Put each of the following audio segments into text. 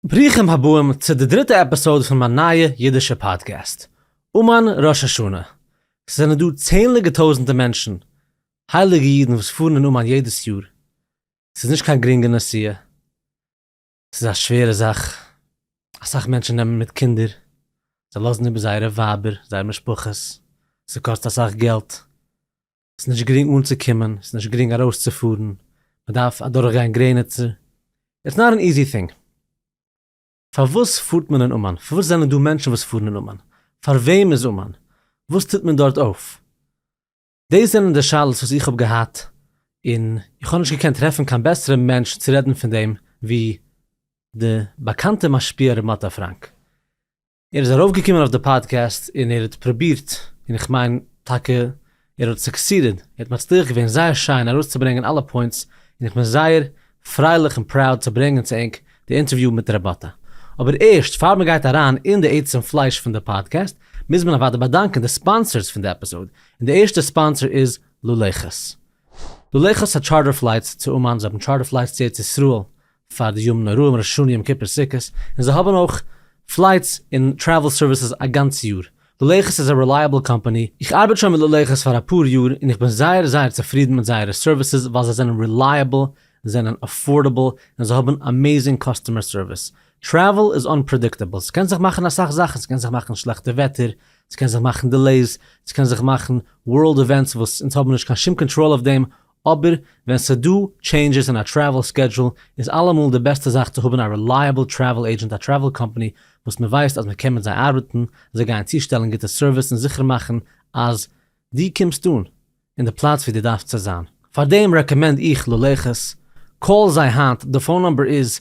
ברוכים הבאים צו די דריטע עפיסאוד פון מיין נייע אידישע פאדקעסט אמן ראש השנה. ס'זענען דא צענליגע טויזענטע מענטשן, הייליגע אידן וואס פארן אין אומאן יעדעס יאר. ס'איז נישט קיין גרינגע נסיעה. ס'איז א שווערע זאך. אסאך מענטשן נעמען מיט קינדער. זיי לאזן איבער זייערע ווייבער, זייערע משפחות. ס'קאסט אסאך געלט. ס'איז נישט גרינג אנצוקומען, ס'איז נישט גרינג ארויסצופארן, מ'דארף אדורכגיין גרעניצער, איטס נאט ען איזי טינג. פארוואס פארט מען אין אומאן? פארוואס זענען דא מענטשן וואס פארן אין אומאן? פאר וועם איז אומאן? וואס טוט מען דארט אויף? דאס זענען די שאלות וואס איך האב געהאט, און איך האב נישט געקענט טרעפן קיין בעסערע מענטש צו רעדן פון דעם ווי די באקאנטע משפיע ר' מאטא פראנק. ער איז ארויפגעקומען אויף די פאדקעסט און ער האט פרובירט און איך מיין טאקע ער האט סוקסידעד, ער האט מצליח געווען זייער שיין ארויסצוברענגען אלע פוינטס און איך בין זייער פרייליך און פראוד צו ברענגען צו ענק די אינטערוויו מיט ר' באטע. אבער ערשט פאר מען גייט אריין אין די עצם פלייש פון די פאדקעסט מוז מען אוודאי באדאנקען די ספאנסערס פון די עפיזאד און די ערשטע ספאנסער איז לולעכעס. לולעכעס האט טשארטער פלייטס צו אומאן, זיי האבן טשארטער פלייטס צו ארץ ישראל, פאר די ימים נוראים ראש השנה יום כיפור סוכות, און זיי האבן אויך פלייטס און טרעוול סערוויסעס א גאנץ יאר. ללכת איז א רעלייעבל קאמפאני, איך ארבעט שוין מיט ללכת פאר אפאר יאר און איך בין זייער זייער צופרידן מיט זייערע סערוויסעס ווייל זיי זענען רעלייעבל, זענען אפארדעבל און זיי האבן אמעזינג קאסטומער סערוויס. טרעוול איז אנפרעדיקטעבל, ס'קען זיך מאכן אסאך זאכן, ס'קען זיך מאכן שלעכטע וועטער, ס'קען זיך מאכן דילעיס, ס'קען זיך מאכן ווארלד עווענטס וואס אונז האבן נישט קיין שום קאנטראל אויף דעם, אבער ווען ס'דא טשעינדזשעס אין א טרעוול סקעדזשול איז אלעמאל די בעסטע זאך צו האבן א רילייעבל טרעוול עידזשענט א טרעוול קאמפאני וואס מ'ווייסט אז מ'קען מיט זיי ארבעטן, זיי גייען צושטעלן גוטע סערוויס און זיכער מאכן אז דו קומסט אן אין די פלאץ ווי דו דארפסט צו זיין. פאר דעם רעקאמענד איך ללכת, קאל זיי היינט, די פאון נומבער איז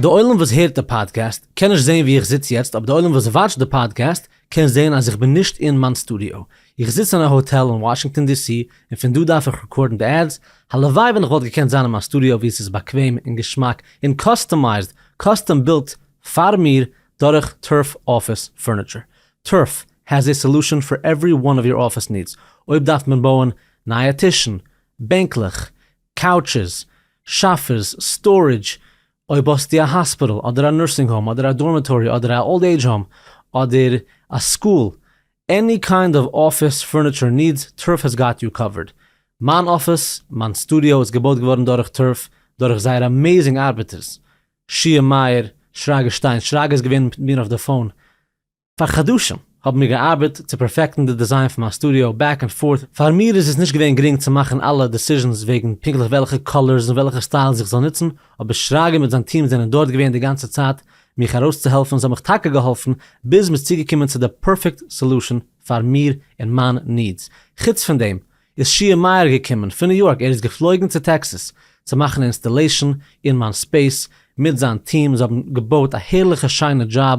די עולם וואס הערט די פאדקעסט קען נישט זעהן ווי איך זיץ יעצט אבער די עולם וואס וואטשט די פאדקעסט קען זעהן אז איך בין נישט אין מיין סטודיאו איך זיץ אין א האטעל אין וואשינגטאן די סי און פון דא דארף איך רעקארדן די עדס הלוואי ווען איך וואלט געקענט זיין אין מיין סטודיאו ווי עס איז באקוועם און געשמאק און קאסטומייזד קאסטום בילט פאר מיר דורך טורף אפיס פורניטשער טורף העז עי סעלושען פאר עווערי וואן אוו יור אפיס נידס אויב דארף מען בויען נייע טישן בענקלעך קאוטשעס, שאפעס, סטארעדזש, אויב האסטו א האספיטעל אדער א נורסינג האום אדער א דארמעטארי אדער א אולד עידזש האום אדער א סקול, עני קיינד אוו אפיס פורניטשער נידס, טורף העס גאט יו קאווערד. מיין אפיס, מיין סטודיאו איז געבויט געווארן דורך טורף, דורך זייער אמעזינג ארבעטערס, שיע מאיר, שרגא שטיין, שרגא איז געווען מיט מיר אויף די פאון, פאר חדשים האבן מיר געארבעט צו פערפעקטן די דיזיין פון מיין סטודיאו, בעק ענד פארט, פאר מיר איז עס נישט געווען גרינג צו מאכן אלע דעסיזשענס וועגן פונקטליך וועלכע קאלערס און וועלכע סטיילס איך זאל נוצן, אבער שרגא מיט זיין טיעם זענען דארט געווען די גאנצע צייט מיך ארויסצוהעלפן און זיי האבן מיך טאקע געהאלפן ביז מ'איז צוגעקומען צו די פערפעקט סעלושען פאר מיר און מיין נידס. חוץ פון דעם איז שיער מאיר געקומען פון ניו יארק, ער איז געפלויגן צו טעקסעס צו מאכן אינסטעלעישן אין מיין ספעיס מיט זיין טיעם, זיי האבן געבויט א הערליכע שיינע דזשאב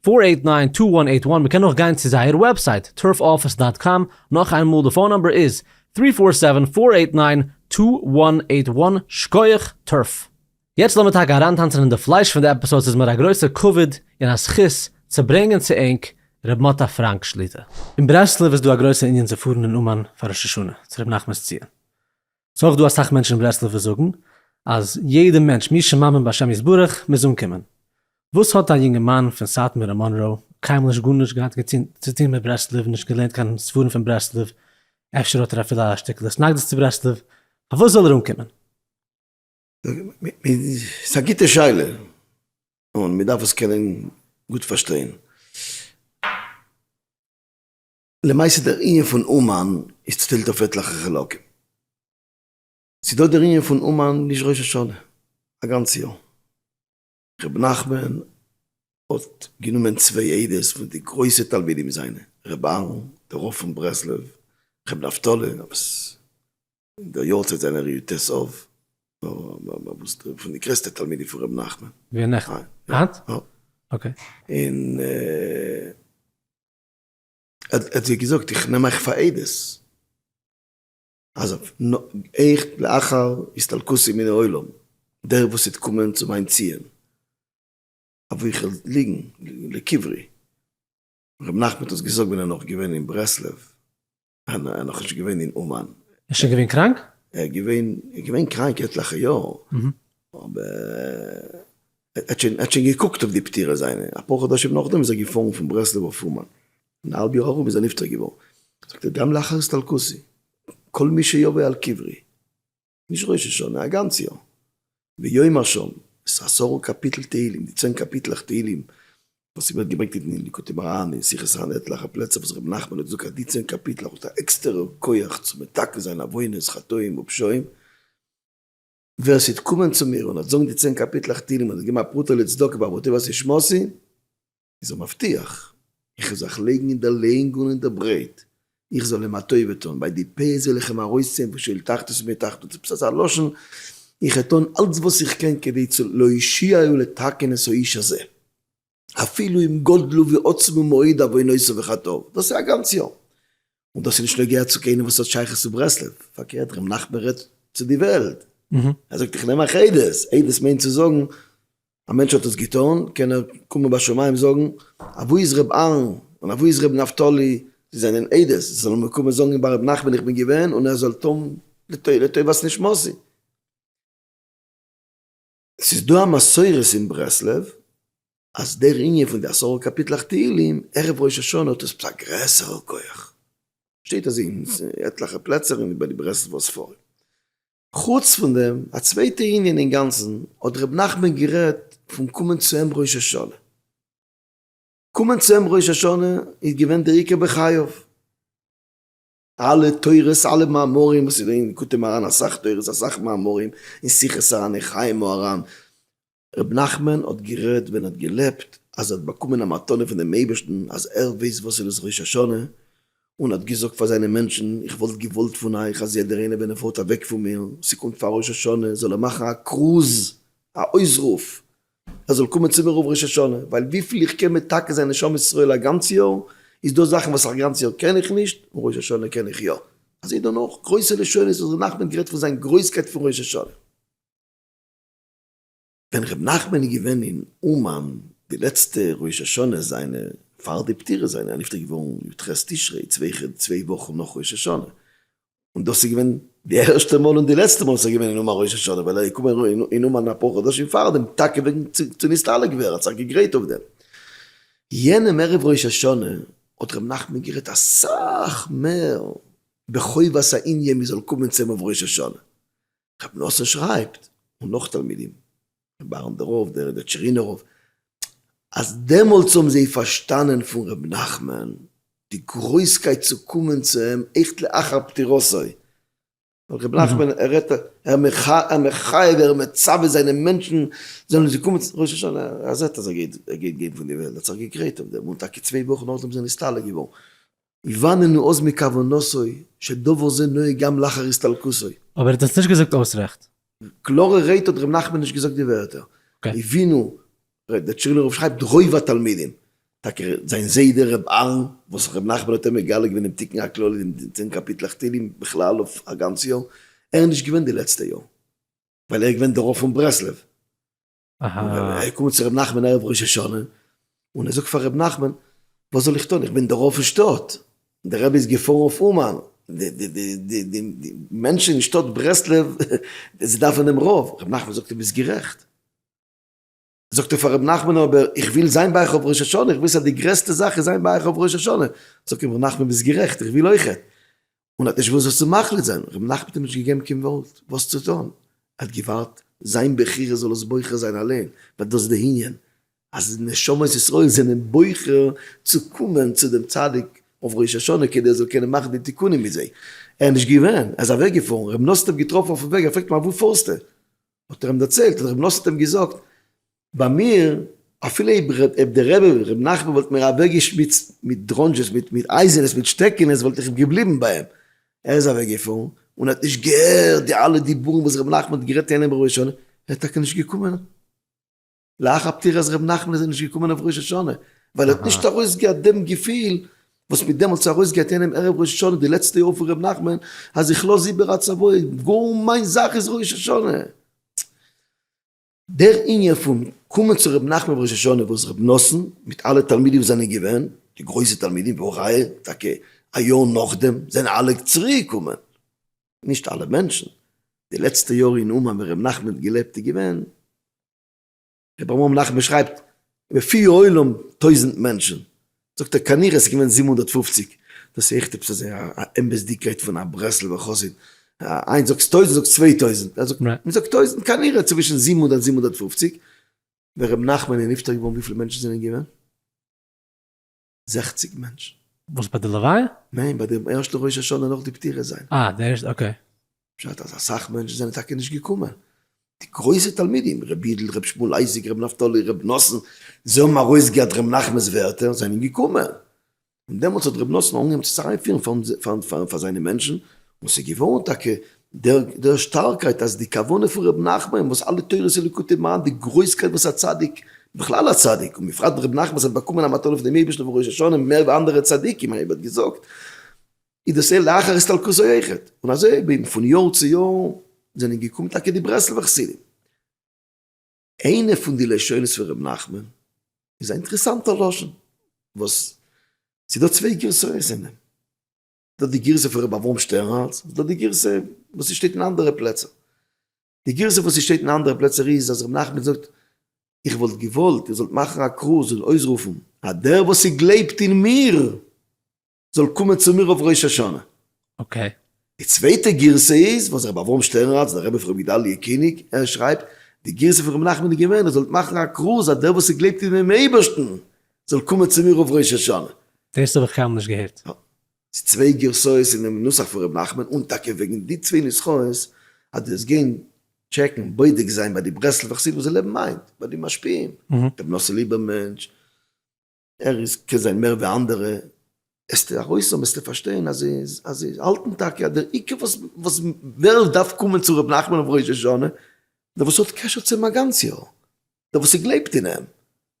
פֿאָר עיט נײַן טו וואן עיט וואן מ'קען אויך גיין צו זייער וועבסייט טורף אפיס דאט קאם נאך איינמאל די פאון נאמבער איז טרי פאר סעווען פאר עיט ניין טו וואן עיט וואן שקויעך טורף. יעצט לאמיר טאקע אריינטאנצן אין די פלייש פון די עפיסאד ס'איז מיר א גרויסע כבוד און א זכות צו ברענגען צו ענק ר' מוטה פראנק שליטא. אין ברסלב איז דא א גרויסע ענין צו פארן אין אומאן פאר ראש השנה צו ר' נחמנ'ס ציון. ס'איז אויך דא אסאך מענטשן אין ברסלב וואס זאגן אז יעדע מענטש מי שמאמין בהשם יתברך מוז אנקומען. וואס האט א יונגערמאן פון סאטמאר און מאנראו קיינמאל נישט גארנישט געהאט צוטון מיט ברסלב, נישט געלערנט קיין ספרים פון ברסלב, אפשר האט ער אפילו א שטיקל התנגדות צו ברסלב, פארוואס זאל ער אנקומען? ס'איז א גוטע שאלה און מ'דארף עס קענען גוט פארשטיין. למעשה דער ענין פון אומאן איז צוטיילט אויף עטליכע חלקים. ס'איז דא דער ענין פון אומאן נישט ראש השנה, א גאנץ יאר. ר' נחמן האט גענומען צוויי עדות פון די גרויסע תלמידים זיינע, ר' אהרן דער רב פון ברסלב, ר' נפתלי וואס אין דער יארצייט זיינע ר י ט אב וואס פון די גרעסטע תלמידים פון ר' נחמן. ווי א נכד? אט? אקעי. און. ער האט זיי געזאגט, איך נעם אייך פאר עדות, אז איך לאחר הסתלקותי מן העולם, דער וואס וועט קומען צו מיין ציון, אביכול ליגן לקברי, ר' נחמן האט עס געזאגט ווען ער נאך געווען אין ברסלב, אה ניין, ער איז נאכנישט געווען אין אומאן. ער איז שוין געווען קראנק? ער איז געווען, ער איז געווען קראנק עטליכע יאר, אבער ער האט שוין, ער האט שוין געקוקט אויף די פטירה זיינע, אפאר חדשים נאכדעם איז ער געפארן פון ברסלב אויף אומאן, און א האלב יאר ארום איז ער נפטר געווארן. זאגט ער, גם לאחר הסתלקותי, כל מי שיבוא על קברי. נישט ראש השנה, א גאנץ יאר. ויום הראשון, עס איז עשרה קאפיטל תהלים, די צען קאפיטלעך תהלים וואס ווערט געברענגט אין ליקוטי מוהרא ן אין שיחות הר ן עטליכע פלעצער וואס רבי נחמן האט געזאגט אז די צען קאפיטלעך האט א עקסטערע כח צו מתקן זיין עוונות, חטאים ופשעים. ווער ס'וועט קומען צו מיר און ער וועט זאגן די צען קאפיטלעך תהלים און ער וועט געבן א פרוטה לצדקה בעבור טובות נשמתו, איז ער מבטיח, איך וועל זיך לייגן אין דער לענג און אין דער ברייט, איך זאָל אים אַ טובה טאָן, ביי די פּאות וועל איך אים אַרויסציען פון שאול תחתית און מתחתית, עפּעס אַזאַ לשון, איך וועל טאָן אַלץ וואָס איך קען כדי צו להושיעו לתקן את האיש הזה, אפילו אם גדלו ועצמו מאוד עוונותיו וחטאיו, דאָס איז אַ גאַנץ יאָר, און דאָס איז נישט נוגע צו קיינעם וואָס האָט שייכות צו ברסלב, פאַרקערט, ר' נחמן רעדט צו די וועלט, ער זאָגט, איך נעם אַ עדות, עדות מיינט צו זאָגן, א מענטש האט עס געטאן, קען ער קומען ביי שמים זאגן, אוואו איז ר' אהרן און אוואו איז ר' נפתלי, זיי זענען עדות, זיי זאלן מיר קומען זאגן ביי ר' נחמן איך בין געווען, און ער זאל טון לטובת נשמתי. עס איז דא א מסורה אין ברסלב אז דער ענין פון די עשרה קאפיטלעך תהילים ערב ראש השנה האט עפעס א גרעסערע כח, שטייט אזוי אין עטליכע פלעצער ביי די ברסלב'ער ספרים. חוץ פון דעם, א צווייטע ענין אינגאנצן, האט ר' נחמן גערעדט פון קומען צו אים ראש השנה. קומען צו אים ראש השנה איז געווען דער עיקר בחייו. אלע תורות, אלע מאמרים וואס איז געווען, כותב מרן אסאך תורות, אסאך מאמרים, אין שיחות הר ן, אין חיי מוהרן, ר' נחמן האט גערעדט ווען ער האט געלעבט אז ער האט באקומען א מתנה פון דעם אייבערשטן אז ער ווייסט וואס איז דאס ראש השנה און האט געזאגט פאר זיינע מענטשן איך וואלט געוואלט פון אייך אז יעדער איינער ווען ער פארט אוועק פון מיר און ס'קומט פאר ראש השנה זאל ער מאכן א כרוז א אויסרוף ער זאל קומען צו מיר אויף ראש השנה ווייל וויפיל איך קען מתקן זיין נשמת ישראל א גאנץ יאר איז דא זאכן וואס א גאנץ יאר קען איך נישט און ראש השנה קען איך יא אזוי דערנאך גרויסע לשונות האט ר' נחמן גערעדט פון זיין גרויסקייט פון ראש השנה. ווען ר' נחמן איז געווען אין אומאן די לעצטע ראש השנה זיינע פאר די פטירה זיינע, ער איז נפטר געווארן יו ט ח' תשרי צוויי כ ד צוויי וואכן נאך ראש השנה, און דאס איז געווען די ערשטע מאל און די לעצטע מאל וואס ער איז געווען אין אומאן ראש השנה, ווייל ער איז געקומען אין אומאן אפאר חדשים פאר דעם טאקע וועגן צו נסתלק ווערן, ער האט זיך געגרייט אויף דעם. יענעם ערב ראש השנה האט ר' נחמן גערעדט אסאך מער בחובת הענין מען זאל קומען צו אים אויף ראש השנה, רבי נאסען שרייבט, און נאך תלמידים, רבי אהרן דער רב, דער דער טשערינער רב, אז דעמאלטס האבן זיי פארשטאנען פון רבי נחמן די גרויסקייט צו קומען צו אים עכט לאחר פטירתו, ווייל רבי נחמן ער רעדט ער מחייב ער מצווה זיינע מענטשן זאלן זיי קומען צו ראש השנה, ער זעט אז ער גייט גיין פון די וועלט, ער האט זיך געגרייט אויף דעם, און טאקע צוויי וואכן נאכדעם איז ער נסתלק געווארן. יבאננו עוז מכוונתו שדבר זה נוהג גם לאחר הסתלקותו. אבער ער האט עס נישט געזאגט אויס רעכט. קלארע רייד האט ר' נחמן נישט געזאגט די ווערטער הבינו ר' דער טשערנא רב שרייבט רוב התלמידים, טאקע זיין זיידע ר' אהרן וואס ר' נחמן האט אים מגלה געווען דעם תיקון הכללי אין די צען קאפיטלעך תהלים בכלל אויף א גאנץ יאר, ער איז נישט געווען די לעצטע יאר ווייל ער איז געווען דערויף פון ברסלב. אהא. ער קומט צו ר' נחמן ערב ראש השנה, און ער זאגט פאר ר' נחמן, וואס זאל איך טון, איך בין דערויף אין שטאט, דער רבי איז געפארן אויף אומאן, די מענטשן אין שטאט ברסלב, זיי דארפן דעם רב, ר' נחמן זאגט דו ביסט גערעכט. זאגט ער פאר ר' נחמן אבער איך וויל זיין ביי אייך אויף ראש השנה, איך וויס אז די גרעסטע זאך איז זיין ביי אייך אויף ראש השנה, זאגט אים ר' נחמן ביסט גערעכט, איך וויל אויכעט, און האט נישט וואס עס צו מחליט זיין, ר' מנחם האט אים נישט געגעבן קיין ווארט וואס צו טון, ער האט געווארט זיין בחירה זאל עס בוחר זיין אליין, ווייל דאס איז די ענין אז נשמות ישראל זענען בוחר צו קומען צו דעם צדיק אויף ראש השנה כדי ער זאל קענען מאכן די תיקונים מיט זיי, ער איז נישט געווען, ער איז אוועק געפארן, ר' נתן האט אים געטראפן אויפן וועג, ער פרעגט אים אוואו פארסטו? האט ער אים דערציילט, האט ר' נתן אים געזאגט, ביי מיר, אפילו אויב אויב דער רבי ר' נחמן וואלט מיר אוועקגעשמיצט מיט דראנזשעס מיט מיט אייזענעס מיט שטעקענעס וואלט איך געבליבן ביי אים, ער איז אוועקגעפארן און האט נישט געהערט די אלע דיבורים וואס ר' נחמן האט גערעדט אינעם ראש השנה, ער איז טאקע נישט געקומען לאחר פטירת ר' נחמן איז ער נישט געקומען אויף ראש השנה ווייל ער האט נישט ארויסגעהאט דעם געפיל וואס מ'האט דעמאלטס ארויסגעהאט אינעם ערב ראש השנה די לעצטע יאר פון ר' נחמן אז איך לאז איבער א צוואה גאר מיין זאך איז ראש השנה. דער ענין פון קומען צו רבי נחמן בראש השנה וואס רבי נתן מיט אלע תלמידים וואס זענען געווען די גרויסע תלמידים והא ראיה טאקע א יאר נאכדעם זענען אלע צוריק געקומען נישט אלע מענטשן די לעצטע יאר אין אומאן ווען רבי נחמן האט געלעבט איז געווען רבי אברהם נחמן שרייבט בפי העולם טויזנט מענטשן זאגט ער כנראה ס'איז געווען זיבן הונדערט פֿופֿציק, דאס איז עכט עפעס אזוי א אמת'דיגקייט פון א ברסלב'ער חסיד, איינס זאגסט טויזענט זאגסט צוויי טויזענט, ער זאגט מ'זאגט טויזענט כנראה צווישן זיבן הונדערט זיבן הונדערט פֿופֿציק, ווען ר' נחמן איז נפטר געווארן וויפיל מענטשן זענען געווען? זעכציק מענטשן. וואס ביי די לוויה? ניין ביי די ערשטע ראש השנה נאך די פטירה זיינע. אה די ערשטע אקעי. פשט אז אסאך מענטשן זענען טאקע נישט געקומען, די גרויסע תלמידים ר' יודל ר' שמואל אייזיק ר' נפתלי ר' נתן, זיי האבן ארויסגעהערט ר' נחמנ'ס ווערטער און זענען געקומען, און דעמאלטס האט ר' נתן אנגעהויבן צו זיך איינפירן פאר זיינע מענטשן, און ס'איז געווארן טאקע דער שטארקייט אז די כוונה פון ר' נחמן וואס אלע תורות און ליקוטי מוהר ן די גרויסקייט וואס א צדיק, בכלל א צדיק, און בפרט ר' נחמן האט באקומען א מתנה פון דעם אייבערשטן פון ראש השנה מער ווי אנדערע צדיקים, אייב ער האט געזאגט. איז דאס ער לאחר הסתלקותו אויכעט, און אזוי אויך בין פון יאר צו יאר זענען געקומען טאקע די ברסלב'ע חסידים. איינע פון די לשונות פון ר' נחמן איז א אינטערעסאנטער לשון וואס ס'איז דא צוויי גירסאות אין דעם, דא די גירסא פון ר' אברהם שטערנהאלץ, און דא די גירסא וואס ס'שטייט אין אנדערע פלעצער. די גירסא וואס ס'שטייט אין אנדערע פלעצער איז אז ר' נחמן זאגט, איך וואלט געוואלט איר זאלט מאכן א כרוז און אויסרופן אז דער וואס ס'גלייבט אין מיר זאל קומען צו מיר אויף ראש השנה. אקעי. די צווייטע גירסא איז וואס רבי אברהם שטערנראץ דער רבי פון רבי גדלי' קיניג ער שרייבט, די גירסא פון רבי נחמן איז געווען איר זאלט מאכן א כרוז אז דער וואס איז גלייבט אין דעם אייבערשטן זאל קומען צו מיר אויף ראש השנה. דאס האב איך קיינמאל נישט געהערט. יא. ס'איז צוויי גירסאות אינעם נוסח פון רבי נחמן און טאקע וועגן די צוויי נוסחאות אז דו זאלסט גיין טשעקן בודק זיין ביי די ברסלב'ע חסידים וואס זיי לעבן היינט, ביי די משפיעים, רבי נאסער ליבערמענטש, ער איז קען זיין מער ווי אנדערע, עס טוט ארויס אבער עס טוט פארשטיין אז זיי האלטן טאקע אז דער עיקר וואס ווער עס דארף קומען צו ר' נחמן אויף ראש השנה, דער וואס האט קשר צו אים א גאנץ יאר, דער וואס גלייבט אין אים,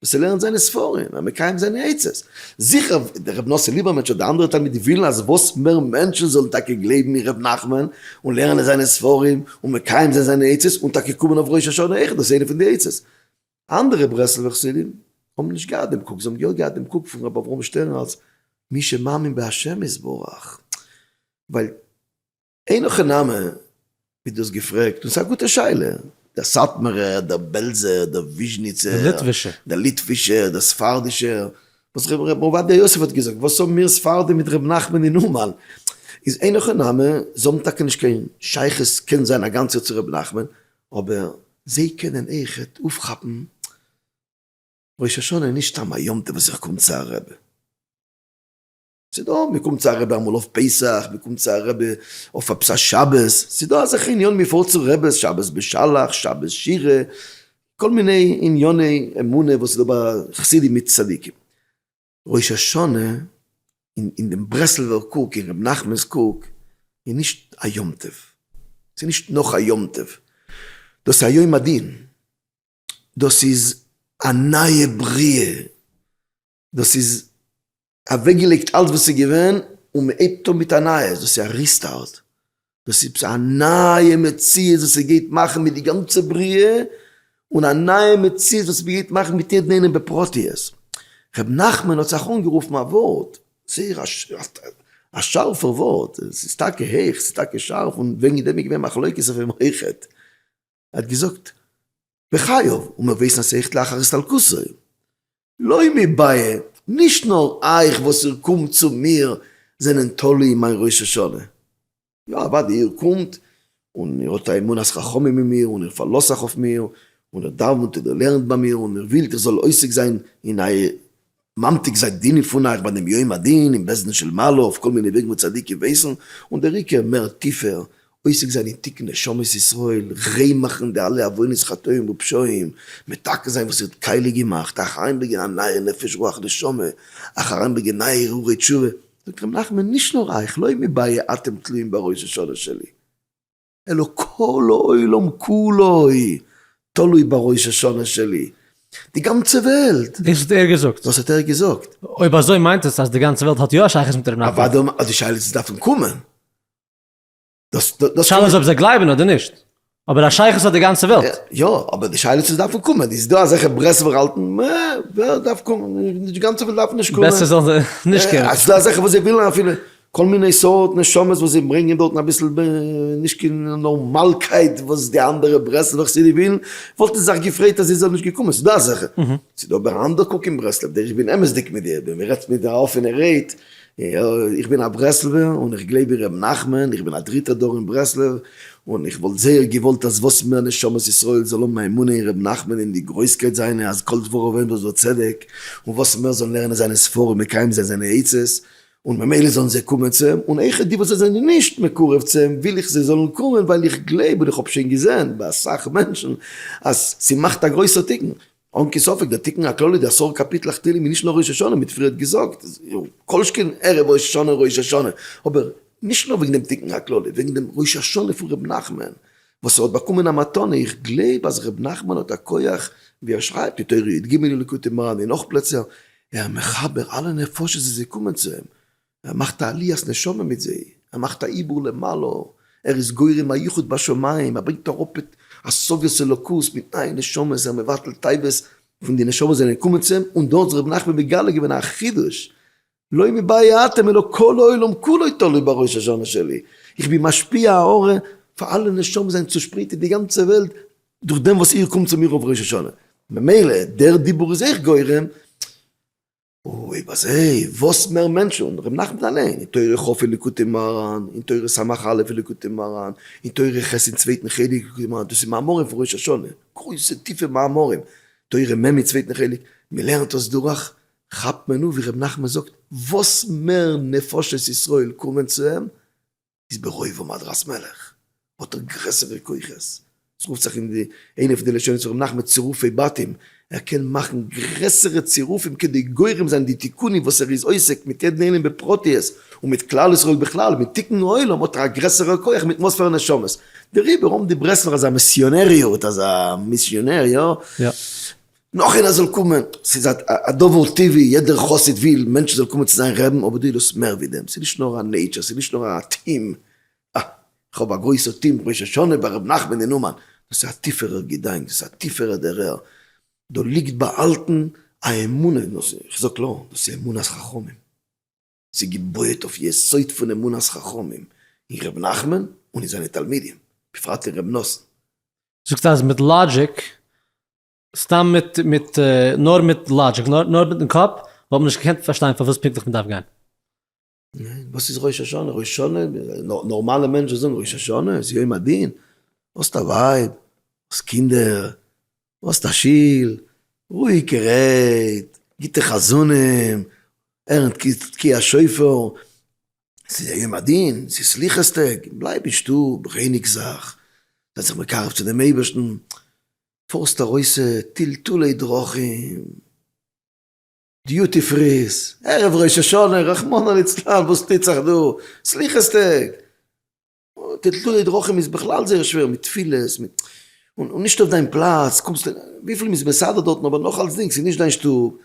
וואס ער לערנט זיינע ספרים און מקיים זיינע עצות, זיכער דער רבי נאסער ליבערמענטש אדער אנדערע תלמידים ווילן אז וואס מער מענטשן זאלן טאקע גלייבן אין ר' נחמן און לערנען זיינע ספרים און מקיים זיין זיינע עצות און טאקע קומען אויף ראש השנה אויך, דאס איז איינע פון די עצות, אנדערע ברסלב'ע חסידים האבן נישט געהאט דעם קוק, זיי האבן יא געהאט דעם קוק פון רבי אברהם שטערן אלס מי שמאמין בה' יתברך, ווייל אין הכי נמי ווי דו האסט געפרעגט, און ס'איז א גוטע שאלה, דער סאטמארער, דער בעלזער, דער וויזשניצער, דער ליטווישער, דער ספרדישער, וואס ר' עובדיה יוסף האט געזאגט, וואס האבן מיר ספרדים מיט ר' נחמן אין אומאן, איז אין הכי נמי, זיי האבן טאקע נישט קיין שייכות קען זיין א גאנצער צו ר' נחמן, אבער זיי קענען איכעט אויפכאפן ראש השנה נישט סתם א יום טוב וואס איך קום צו א רבי. ס'דא מ'קומט צו א רבי אמאל אויף פסח, מ'קומט צו א רבי אויף עפעס א שבת, ס'דא אזעלכע עניינים מ'פארט צו רבי'ס, שבת בשלח, שבת שירה, כל מיני ענייני אמונה וואס איז דא ביי חסידים מיט צדיקים. ראש השנה אין דעם ברסלב'ער קוק, אין רבי נחמנ'ס קוק, איז נישט א יום טוב, ס'איז נישט נאך א יום טוב, דאס איז א יום הדין, דאס איז א נייע בריאה, דאס איז אוועקגעלייגט אלץ וואס איז געווען און מ'הייבט אן מיט א נייעס, דאס איז א ריסטארט, דאס איז א נייע מציאות וואס ער גייט מאכן מיט די גאנצע בריאה, און א נייע מציאות וואס ער גייט מאכן מיט יעדן איינעם בפרטיות. ר' נחמן האט זיך אנגערופן א ווארט, זייער א שארפער ווארט, עס איז טאקע הויך, עס איז טאקע שארף, און וועגן דעם איז געווען מחלוקת אויף אים אויכעט. ער האט געזאגט בחייו און מען ווייסט אז עכט לאחר הסתלקותו לא מבעיה נישט נאר אייך וואס איר קומט צו מיר זענען תלוי אין מיין ראש השנה יא אוודאי איר קומט און איר האט א אמונת חכמים אין מיר און איר פארלאזט זיך אויף מיר און איר דאווענט און איר לערנט ביי מיר און איר ווילט איך זאל עוסק זיין אין אייער ממתיק זיי דינין פון אייך ביי דעם יום הדין אין בית דין של מעלה אויף כל מיני וועגן וואו צדיקים ווייסן, און דער עיקר מער טיפער, עוסק זיין אין תיקון נשמות ישראל, ריין מאכן די אלע עוונות חטאים ופשעים, מתקן זיין וואס ווערט קייליג געמאכט, אייך אריינברענגען א נייער נפש רוח נשמה, אייך אריינברענגען נייע הרהורי תשובה, זאגט רבי נחמן נישט נאר אייך, לא מי באיה אתם תלויים בראש השנה שלי. אלא כל העולם כולו תלוי בראש השנה שלי. די גאנצע וועלט! דאס האט ער געזאגט? דאס האט ער געזאגט. אויב אזוי מיינט עס אז די גאנצע וועלט האט יא א שייכות מיט ר' נתן. אוודאי מ א, די שאלה איז דארף מען קומען. די שאלה איז אויב זיי גלייבן אדער נישט. אבער א שייכות האט די גאנצע וועלט. יא, אבער די שאלה איז צו עס דארף מען קומען. איז דא אזעלכע ברסלב'ער האלטן מ א ווער דארף קומען, די גאנצע וועלט דארף נישט קומען. בעסער זאלן זיי נישט קומען. ס'דא אזעלכע וואס זיי ווילן אפילו כל מיני סארט נשמות וואס זיי ברענגען דארטן אביסל נישט קיין נארמאלקייט וואס די אנדערע ברסלב'ע חסידים ווילן, וואלט עס זיך געפרעיט אז איר זענט נישט געקומען, ס'איז דא אזעלכע, ס'איז דא אבער אנדער קוק אין ברסלב, דער איך בין אמת'דיג מיט דיר, ווען מ'רעדט מיט א אפענע רייד, איך בין א ברסלב'ער און איך גלייב אין ר' נחמן, איך בין א דריטע דור אין ברסלב, און איך וואלט זייער געוואלט אז וואס מער נשמות ישראל זאלן האבן א אמונה אין ר' נחמן אין די גרויסקייט זיינע אז כל דבריו אמת וצדק, און וואס מער זאלן לערנען זיינע ספרים מקיים זיין זיינע עצות, און ממילא זאלן זיי קומען צו אים, און אויכעט די וואס זיי זענען נישט מקורב צו אים וויל איך זיי זאלן קומען ווייל איך גלייב און איך האב שוין געזען ביי אסאך מענטשן אז ס'מאכט א גרויסער תיקון, אן קיין ספק דער תיקון הכללי די עשרה קאפיטלעך תהלים איז נישט נאר ראש השנה מיט פריערט געזאגט כל שכן ערב ראש השנה און ראש השנה, אבער נישט נאר וועגן דעם תיקון הכללי וועגן דעם ראש השנה פון ר' נחמן וואס ער האט באקומען א מתנה, איך גלייב אז ר' נחמן האט א כח ווי ער שרייבט אין תורה יד ג אין ליקוטי מהר ן אין נאך פלעצער ער איז מחבר אלע נפשות וואס זיי קומען צו אים, ער מאכט א עליית נשמה מיט זיי, ער מאכט א עיבור למעלה, ער איז גורם א יחוד בשמים, ער ברענגט אראפ את השגת אלוקות מיט נייע נשמות, ער מבטל תאוות פון די נשמות וואס זענען געקומען צו אים, און דארט האט זיך רבי נחמן מגלה געווען א חידוש, לא מבאי האטם אלא כל העולם כולו תלוי בראש השנה שלי, איך בין משפיע האור פאר אלע נשמות זיי זענען צושפרייט אין די גאנצע וועלט, דורך דעם וואס איר קומט צו מיר אויף ראש השנה, ממילא דער דיבור איז אייך גורם, אוי בזה, וואס מער מענטשן, און ר' נחמן אליין, אין תורה כא פון ליקוטי מוהרן, אין תורה סמך א' פון ליקוטי מוהרן, אין תורה ח' אין צווייטן חלק ליקוטי מוהרן, דאס איז מאמרים פון ראש השנה, גרויסע טיפע מאמרים, תורה מ' אין צווייטן חלק, מען לערנט דאס דורך, כאפט מען אן ווי ר' נחמן זאגט, וואס מער נפשות ישראל קומען צו אים, איז ברוב עם עד ראס מלך האט ער גרעסערע כוחות, עס רופט זיך אין די איינע פון די לשונות פון ר' נחמן צירופי בתים, ער קען מאכן גרעסערע צירופים כדי גורם זיין די תיקונים וואס ער איז עוסק מיט יעדן איינעם בפרטיות און מיט כלל ישראל בכלל, מיט תיקון העולם האט ער א גרעסערע כח מיט מאספערע נשמות, דעריבער האבן די ברסלב'ער אזא מיסיאנעריות, אזא מיסיאנער, יא? נאך איינער זאל קומען, ס'איז א דבר טבעי, יעדער חסיד וויל מענטשן זאלן קומען צו זיין רעדן, אבער דו ווילסט מער ווי דעם, ס'איז נישט נאר א נעיטשער, ס'איז נישט נאר א טעם, אה, כ'האב א גרויסע טעם ראש השנה ביי ר' נחמן אין אומאן, דאס איז א טיפערע געדאנק, דאס איז א טיפערע דערהער, דא ליגט באהאלטן א אמונה אין דאס, איך זאג קלאר, דאס איז אמונת חכמים, ס'איז געבויעט אויף יסוד פון אמונת חכמים אין ר' נחמן און אין זיינע תלמידים, בפרט אין ר' נתן. זאגסט אז מיט לאגיק סתם מיט מיט נאר מיט לאגיק נאר נאר מיטן קאפ וואלט מען נישט געקענט פארשטיין פארוואס פונקטליך מען דארף גיין. וואס איז ראש השנה? ראש השנה, נארמאלע מענטשן זאגן ראש השנה איז יום הדין, דו האסט א ווייב, דו האסט קינדער, דו האסט א שול, רואיגע רייד, גוטע חזנים, ערענד תקיע השופר, ס'איז א יום הדין, ס'איז סליחות טעג, בלייב אין שטוב, רייניג זיך, זיי זיך מקרב צו דעם אייבערשטן, פארסט ארויסע טלטולי דרכים, דיוטי פרי'ס, ערב ראש השנה, רחמנא ליצלן וואס טוט זיך דא, סליחות טעג, טלטולי דרכים איז בכלל זייער שווער מיט תפילות, מיט, און נישט אויף דיין פלאץ, קומסט, וויפיל מ'איז מסדר דארטן אבער נאך אלסדינג ס'נישט דיין שטוב.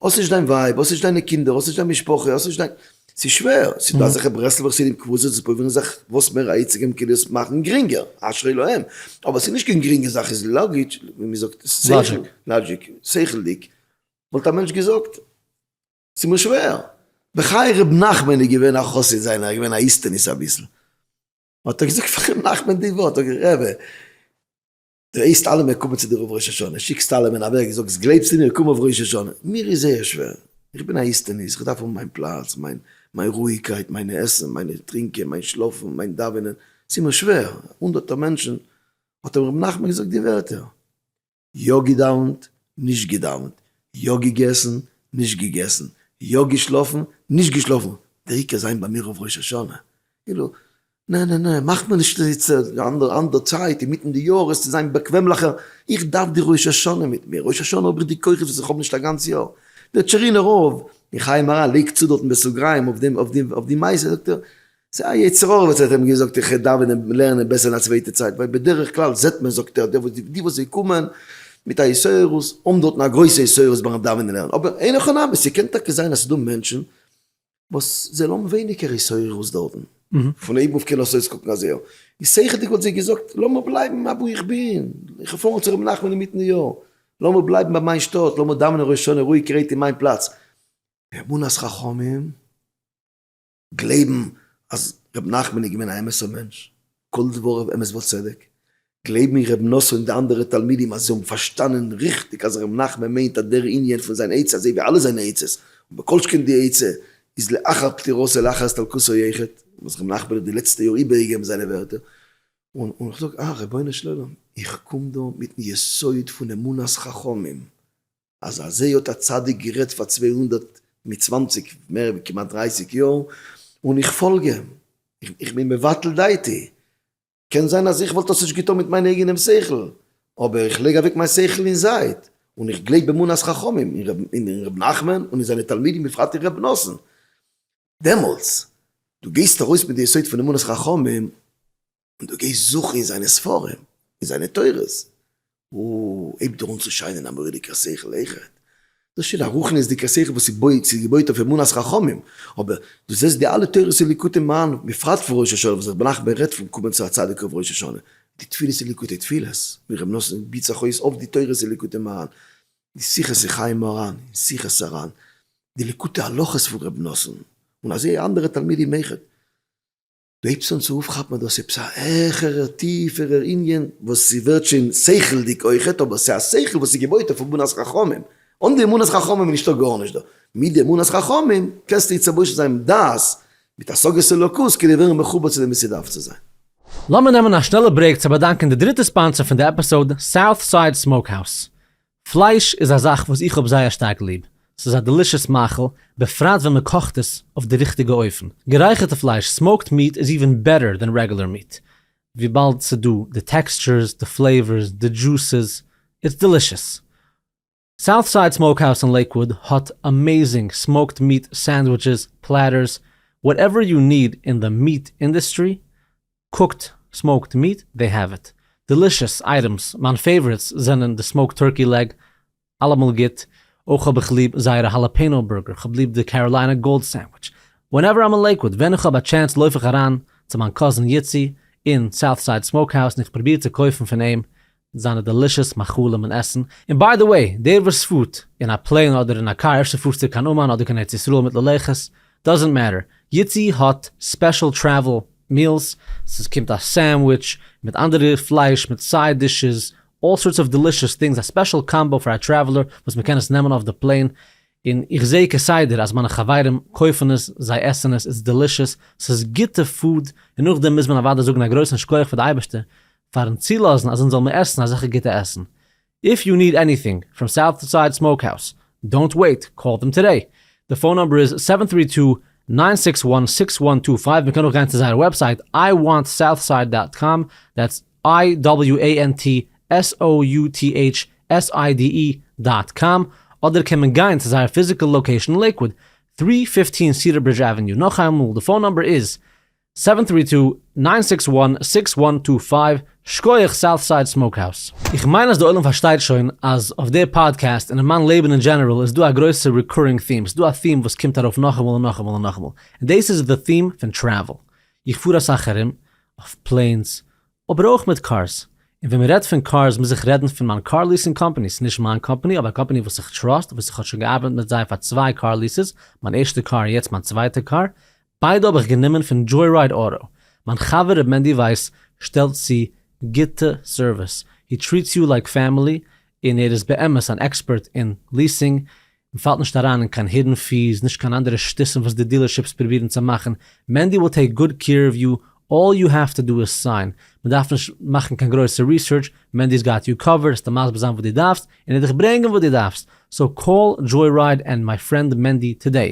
האסט נישט דיין ווייב, האסט נישט דיינע קינדער, האסט נישט דיין משפחה, האסט נישט דיין, ס'איז שווער, ס'איז דא אזעלכע ברסלב'ער חסידים קבוצות וואס פרובירן זיך וואס מער א היציגע מקוה עס מאכן גרינגער, אשרי להם, אבער ס'איז נישט קיין גרינגע זאך, איז לאגיטש, ווי מען זאגט, שכל, לאגיק, שכל'דיג, וואלט א מענטש געזאגט, ס'איז מיר שווער, בחיי ר' נחמן איז געווען א חסיד זיינער, ער איז געווען א איסטניס אביסל, האט ער געזאגט פאר ר' נחמן די ווארט, האט ער געזאגט, רעבע, דו הייסט אלע מער קומען צו דיר אויף ראש השנה, שיקסט אלע מען אוועק, זאגסט גלייבסטו מיר קום אויף ראש השנה, מיר איז זייער שווער, איך בין א איסטעניסט, איך דארף האבן מיין פלאץ, מיין מיין רואיגקייט, מיינע עסן, מיינע טרינקען, מיין שלאפן, מיין דאווענען, ס'איז מיר שווער, הונדערטער מענטשן, האט אים ר' נחמן געזאגט די ווערטער, יא געדאווענט, נישט געדאווענט, יא געגעסן, נישט געגעסן, יא געשלאפן, נישט געשלאפן, דער עיקר זיין ביי מיר אויף ראש השנה, כאילו נע נע נע, מאך מיר נישט זיצען די אנדערע אנדערע צייט אינמיטן די יאר עס צו זיין באקוועמליכער, איך דארף די ראש השנה מיט מיר, ראש השנה האב איך די כוחות וואס איך האב נישט א גאנץ יאר, דער טשערינער רב, און חיים מהרא לייגט צו דארטן בסוגריים אויף דעם אויף די מעשה זאגט ער, ס'איז א יצר הרע וואס האט אים געזאגט איך דאווען און לערנען בעסער אין א צווייטע צייט, ווייל בדרך כלל זעט מען זאגט ער די וואס זיי קומען מיט א יסורות האבן דארטן א גרויסע יסורות ביים דאווענען און לערנען, אבער אין הכי נמי ס'קען טאקע זיין אז ס'איז דא מענטשן, וואס זיי האבן ווייניגער התעוררות דארטן, פון אויבן אויף קען עס אויסקוקן אזוי, איז שכל'דיג וואלט זי געזאגט, לאמיר בלייבן אוואו איך בין, איך האב פארן צו ר' נחמן אינמיטן יאר, לאמיר בלייבן ביי מיין שטאט, לאמיר דאווענען ראש השנה רואיג גרייט אין מיין פלאץ. אמונת חכמים, גלייבן אז ר' נחמן איז געווען א אמת'ער מענטש, כל דבריו אמת וצדק, גלייב מיר ר' נאסר און די אנדערע תלמידים אז זיי האבן פארשטאנען ריכטיג אז ר' נחמן מיינט אז דער ענין פון זיין עצה אזוי ווי אלע זיינע עצות, און בכל שכן די עצה, איז לאחר פטירתו לאחר הסתלקותו יחד, וואס ר' נחמן האט די לעצטע יאר איבערגעגעבן זיינע ווערטער, און איך זאג אה רבונו של עולם איך קום דא מיטן יסוד פון אמונת חכמים אז אזוי האט א צדיק גערעדט פאר צוויי הונדערט מיט צוואנציג מער ווי כמעט דרייסיג יאר און איך פאלג אים, איך בין מבטל דעתי. קען זיין אז איך וואלט עס נישט געטון מיט מיין אייגענעם שכל, אבער איך לייג אוועק מיין שכל אין זייט, און איך גלייב באמונת חכמים אין ר' נחמן און אין זיינע תלמידים בפרט אין ר' נתן. דעמאלטס, דו גייסט ארויס מיט די יסוד פון אמונת חכמים, און דו גייסט זוכן אין זיינע ספרים, אין זיינע תורות, הויבט ער אן צו שיינען א מורא'דיגער שכל איכות, דאס שוין א רוחניות'דיגער שכל וואס איז געבויט אויף אמונת חכמים, אבער דו זעסט די אלע תורות און ליקוטים מהנ ל, בפרט פון ראש השנה וואס רבי נחמן רעדט פון קומען צו א צדיק אויף ראש השנה, די תפילות און ליקוטי תפילות ווי רבי נתן גיבט זיך אויס אויף די תורות און ליקוטי מהר ן, די שיחות אין חיי מוהר ן און שיחות הר ן, די ליקוטי הלכות פון רבי נתן, און אזוי אנדערע תלמידים איכות. דו הייבסט אן צו אויפכאפן אז דאס איז עפעס א העכערער טיפערער ענין וואס ס'ווערט שוין שכל'דיג אויכעט, אבער ס'איז א שכל וואס איז געבויט אויף אמונת חכמים, אן די אמונת חכמים איז נישטא גארנישט דא, מיט די אמונת חכמים קענסטו התלבש זיין מיט דעת, מיט השגת אלוקות כדי ווערן מחובר צו דעם ווי ס'דארף צו זיין. לאמיר נעמען א שנעלע ברעיק צו באדאנקען די דריטע ספאנסער פון די עפיסאוד, סאוט סייד סמאוק האוז. פלייש איז א זאך וואס איך האב זייער שטארק ליב, ס'איז א דעלישעס מאכל, בפרט ווען מען קאכט עס אויף די ריכטיגע אופן. גערייכערטע פלייש, סמאוקד מיעט, איז איווען בעטער דען רעגולער מיעט, וויבאלד ס'איז דא די טעקסטשורס, די פלעיווארס, די דזשוסעס, איטס דעלישעס. סאוט סייד סמאוקהאוז אין לעיקוואוד האט אמעיזינג סמאוקד מיעט סענדוויטשעס, פלעטערס, וואטעווער יו ניד אין די מיעט אינדעסטרי, קוקט, סמאוקד מיעט, דעי העוו איט. דעלישעס אייטעמס, מיין פעיוואריטס זענען די סמאוקד טורקי לעג, אלעמאל גוט, אויך האב איך ליב זייערע האלעפעינאו בורגער, כ'האב ליב די קעראליינע גאלד סענדוויטש. ווענעווער איים אין לעיקוואד, ווען איך האב א טשענס לויף איך אריין צו מיין קאזין איצי אין סאוטסייד סמאוקהאוז און איך פרוביר צו קויפן פון אים זיינע דעלישעס מאכלים און עסן, און ביי די וועי, דער וואס פארט אין א פלעין אדער אין א קאר, אפשר פארסטו קיין אומאן אדער קיין ארץ ישראל מיט ללכת, דאזענט מעטער, יעצי האט ספעשל טרעוול מילס, ס'איז קומט א סענדוויטש מיט אנדערע פלייש מיט סייד דישעס, אלל סארטס אוו דעלישעס טינגס, א ספעשל קאמבא פאר א טרעוולער וואס מען קען עס נעמען אויף די פלעין, און איך זעה כסדר אז מיינע חברים קויפן עס, זיי עסן עס, איטס דעלישעס, ס'איז גוטע פוד, און נאכדעם מוז מען אוודאי זאגן א גרויסן שכוח פאר די אייבערשטער פארן צולאזן אז אונז זאל מען עסן אזעלכע גוטע עסן. איף יו ניד עניטינג פראם סאוט סייד סמאוק האוס דאונט וועיט קאל דעם טודעי די פאון נאמבער איז סעווען טרי טו ניין סיקס וואן סיקס וואן טו פייוו מען קען אויך גיין צו זייער וועבסייט איי וואנט סאוט סייד דאט קאם דעטס איי דאבעליו עי ען טי עס או יו טי עיטש עס איי די אי דאט קאם אדער קען מען גיין צו זייער פיזיקעל לאקעישן אין לעיקוואד טרי פיפטין סידער ברידזש עוועניו נאכאיינמאל די פאון נאמבער איז סעווען טרי טו ניין סיקס וואן סיקס וואן טו פייוו, שקויעך סאוטסייד סמאוקהאוז. איך מיין אז די עולם פארשטייט שוין אז אויף די פאדקעסט און אין מיין לעבן אין דזשענעראל איז דא א גרויסע ריקורינג theme, ס'דא א theme וואס קומט ארויף נאכאמאל און נאכאמאל און נאכאמאל, און דאס איז די theme פון טרעוועל. איך פאר אסאך ארום, אויף פלעינס, אבער אויך מיט קארס, און ווען מ'רעדט פון קארס מוז איך רעדן פון מיין קאר ליעסינג קאמפאני, ס'איז נישט מיין קאמפאני אבער א קאמפאני וואס איך טראסט וואס איך האב שוין געארבעט מיט זיי פאר צוויי קאר ליעסעס, מיין ערשטע קאר און יעצט מיין צווייטע קאר, ביידע האב איך גענומען פון דזשוי-רייד אוטא, מיין חבר ר' מענדי ווייס שטעלט צו גוטע סערוויס, הי טריעטס יו לייק פעמילי, און ער איז באמת אן עקספערט אין ליעסינג, מ'פאלט נישט אריין אין קיין הידען פיס, נישט קיין אנדערע שטותים וואס די דילערשיפס פרובירן צו מאכן, מענדי וויל טעיק גוד קעיר אוו יו, אלל יו העוו טו דא איז סיין, מ'דארף נישט מאכן קיין גרויסע ריסערטש, מענדי'ס גאט יו קאווערד, עס טאר מסביר זיין וואס דו דארפסט, און ער דיך ברענגען וואס דו דארפסט, סאו קאל דזשוי רייד ענד מיי פרענד מענדי טודעי.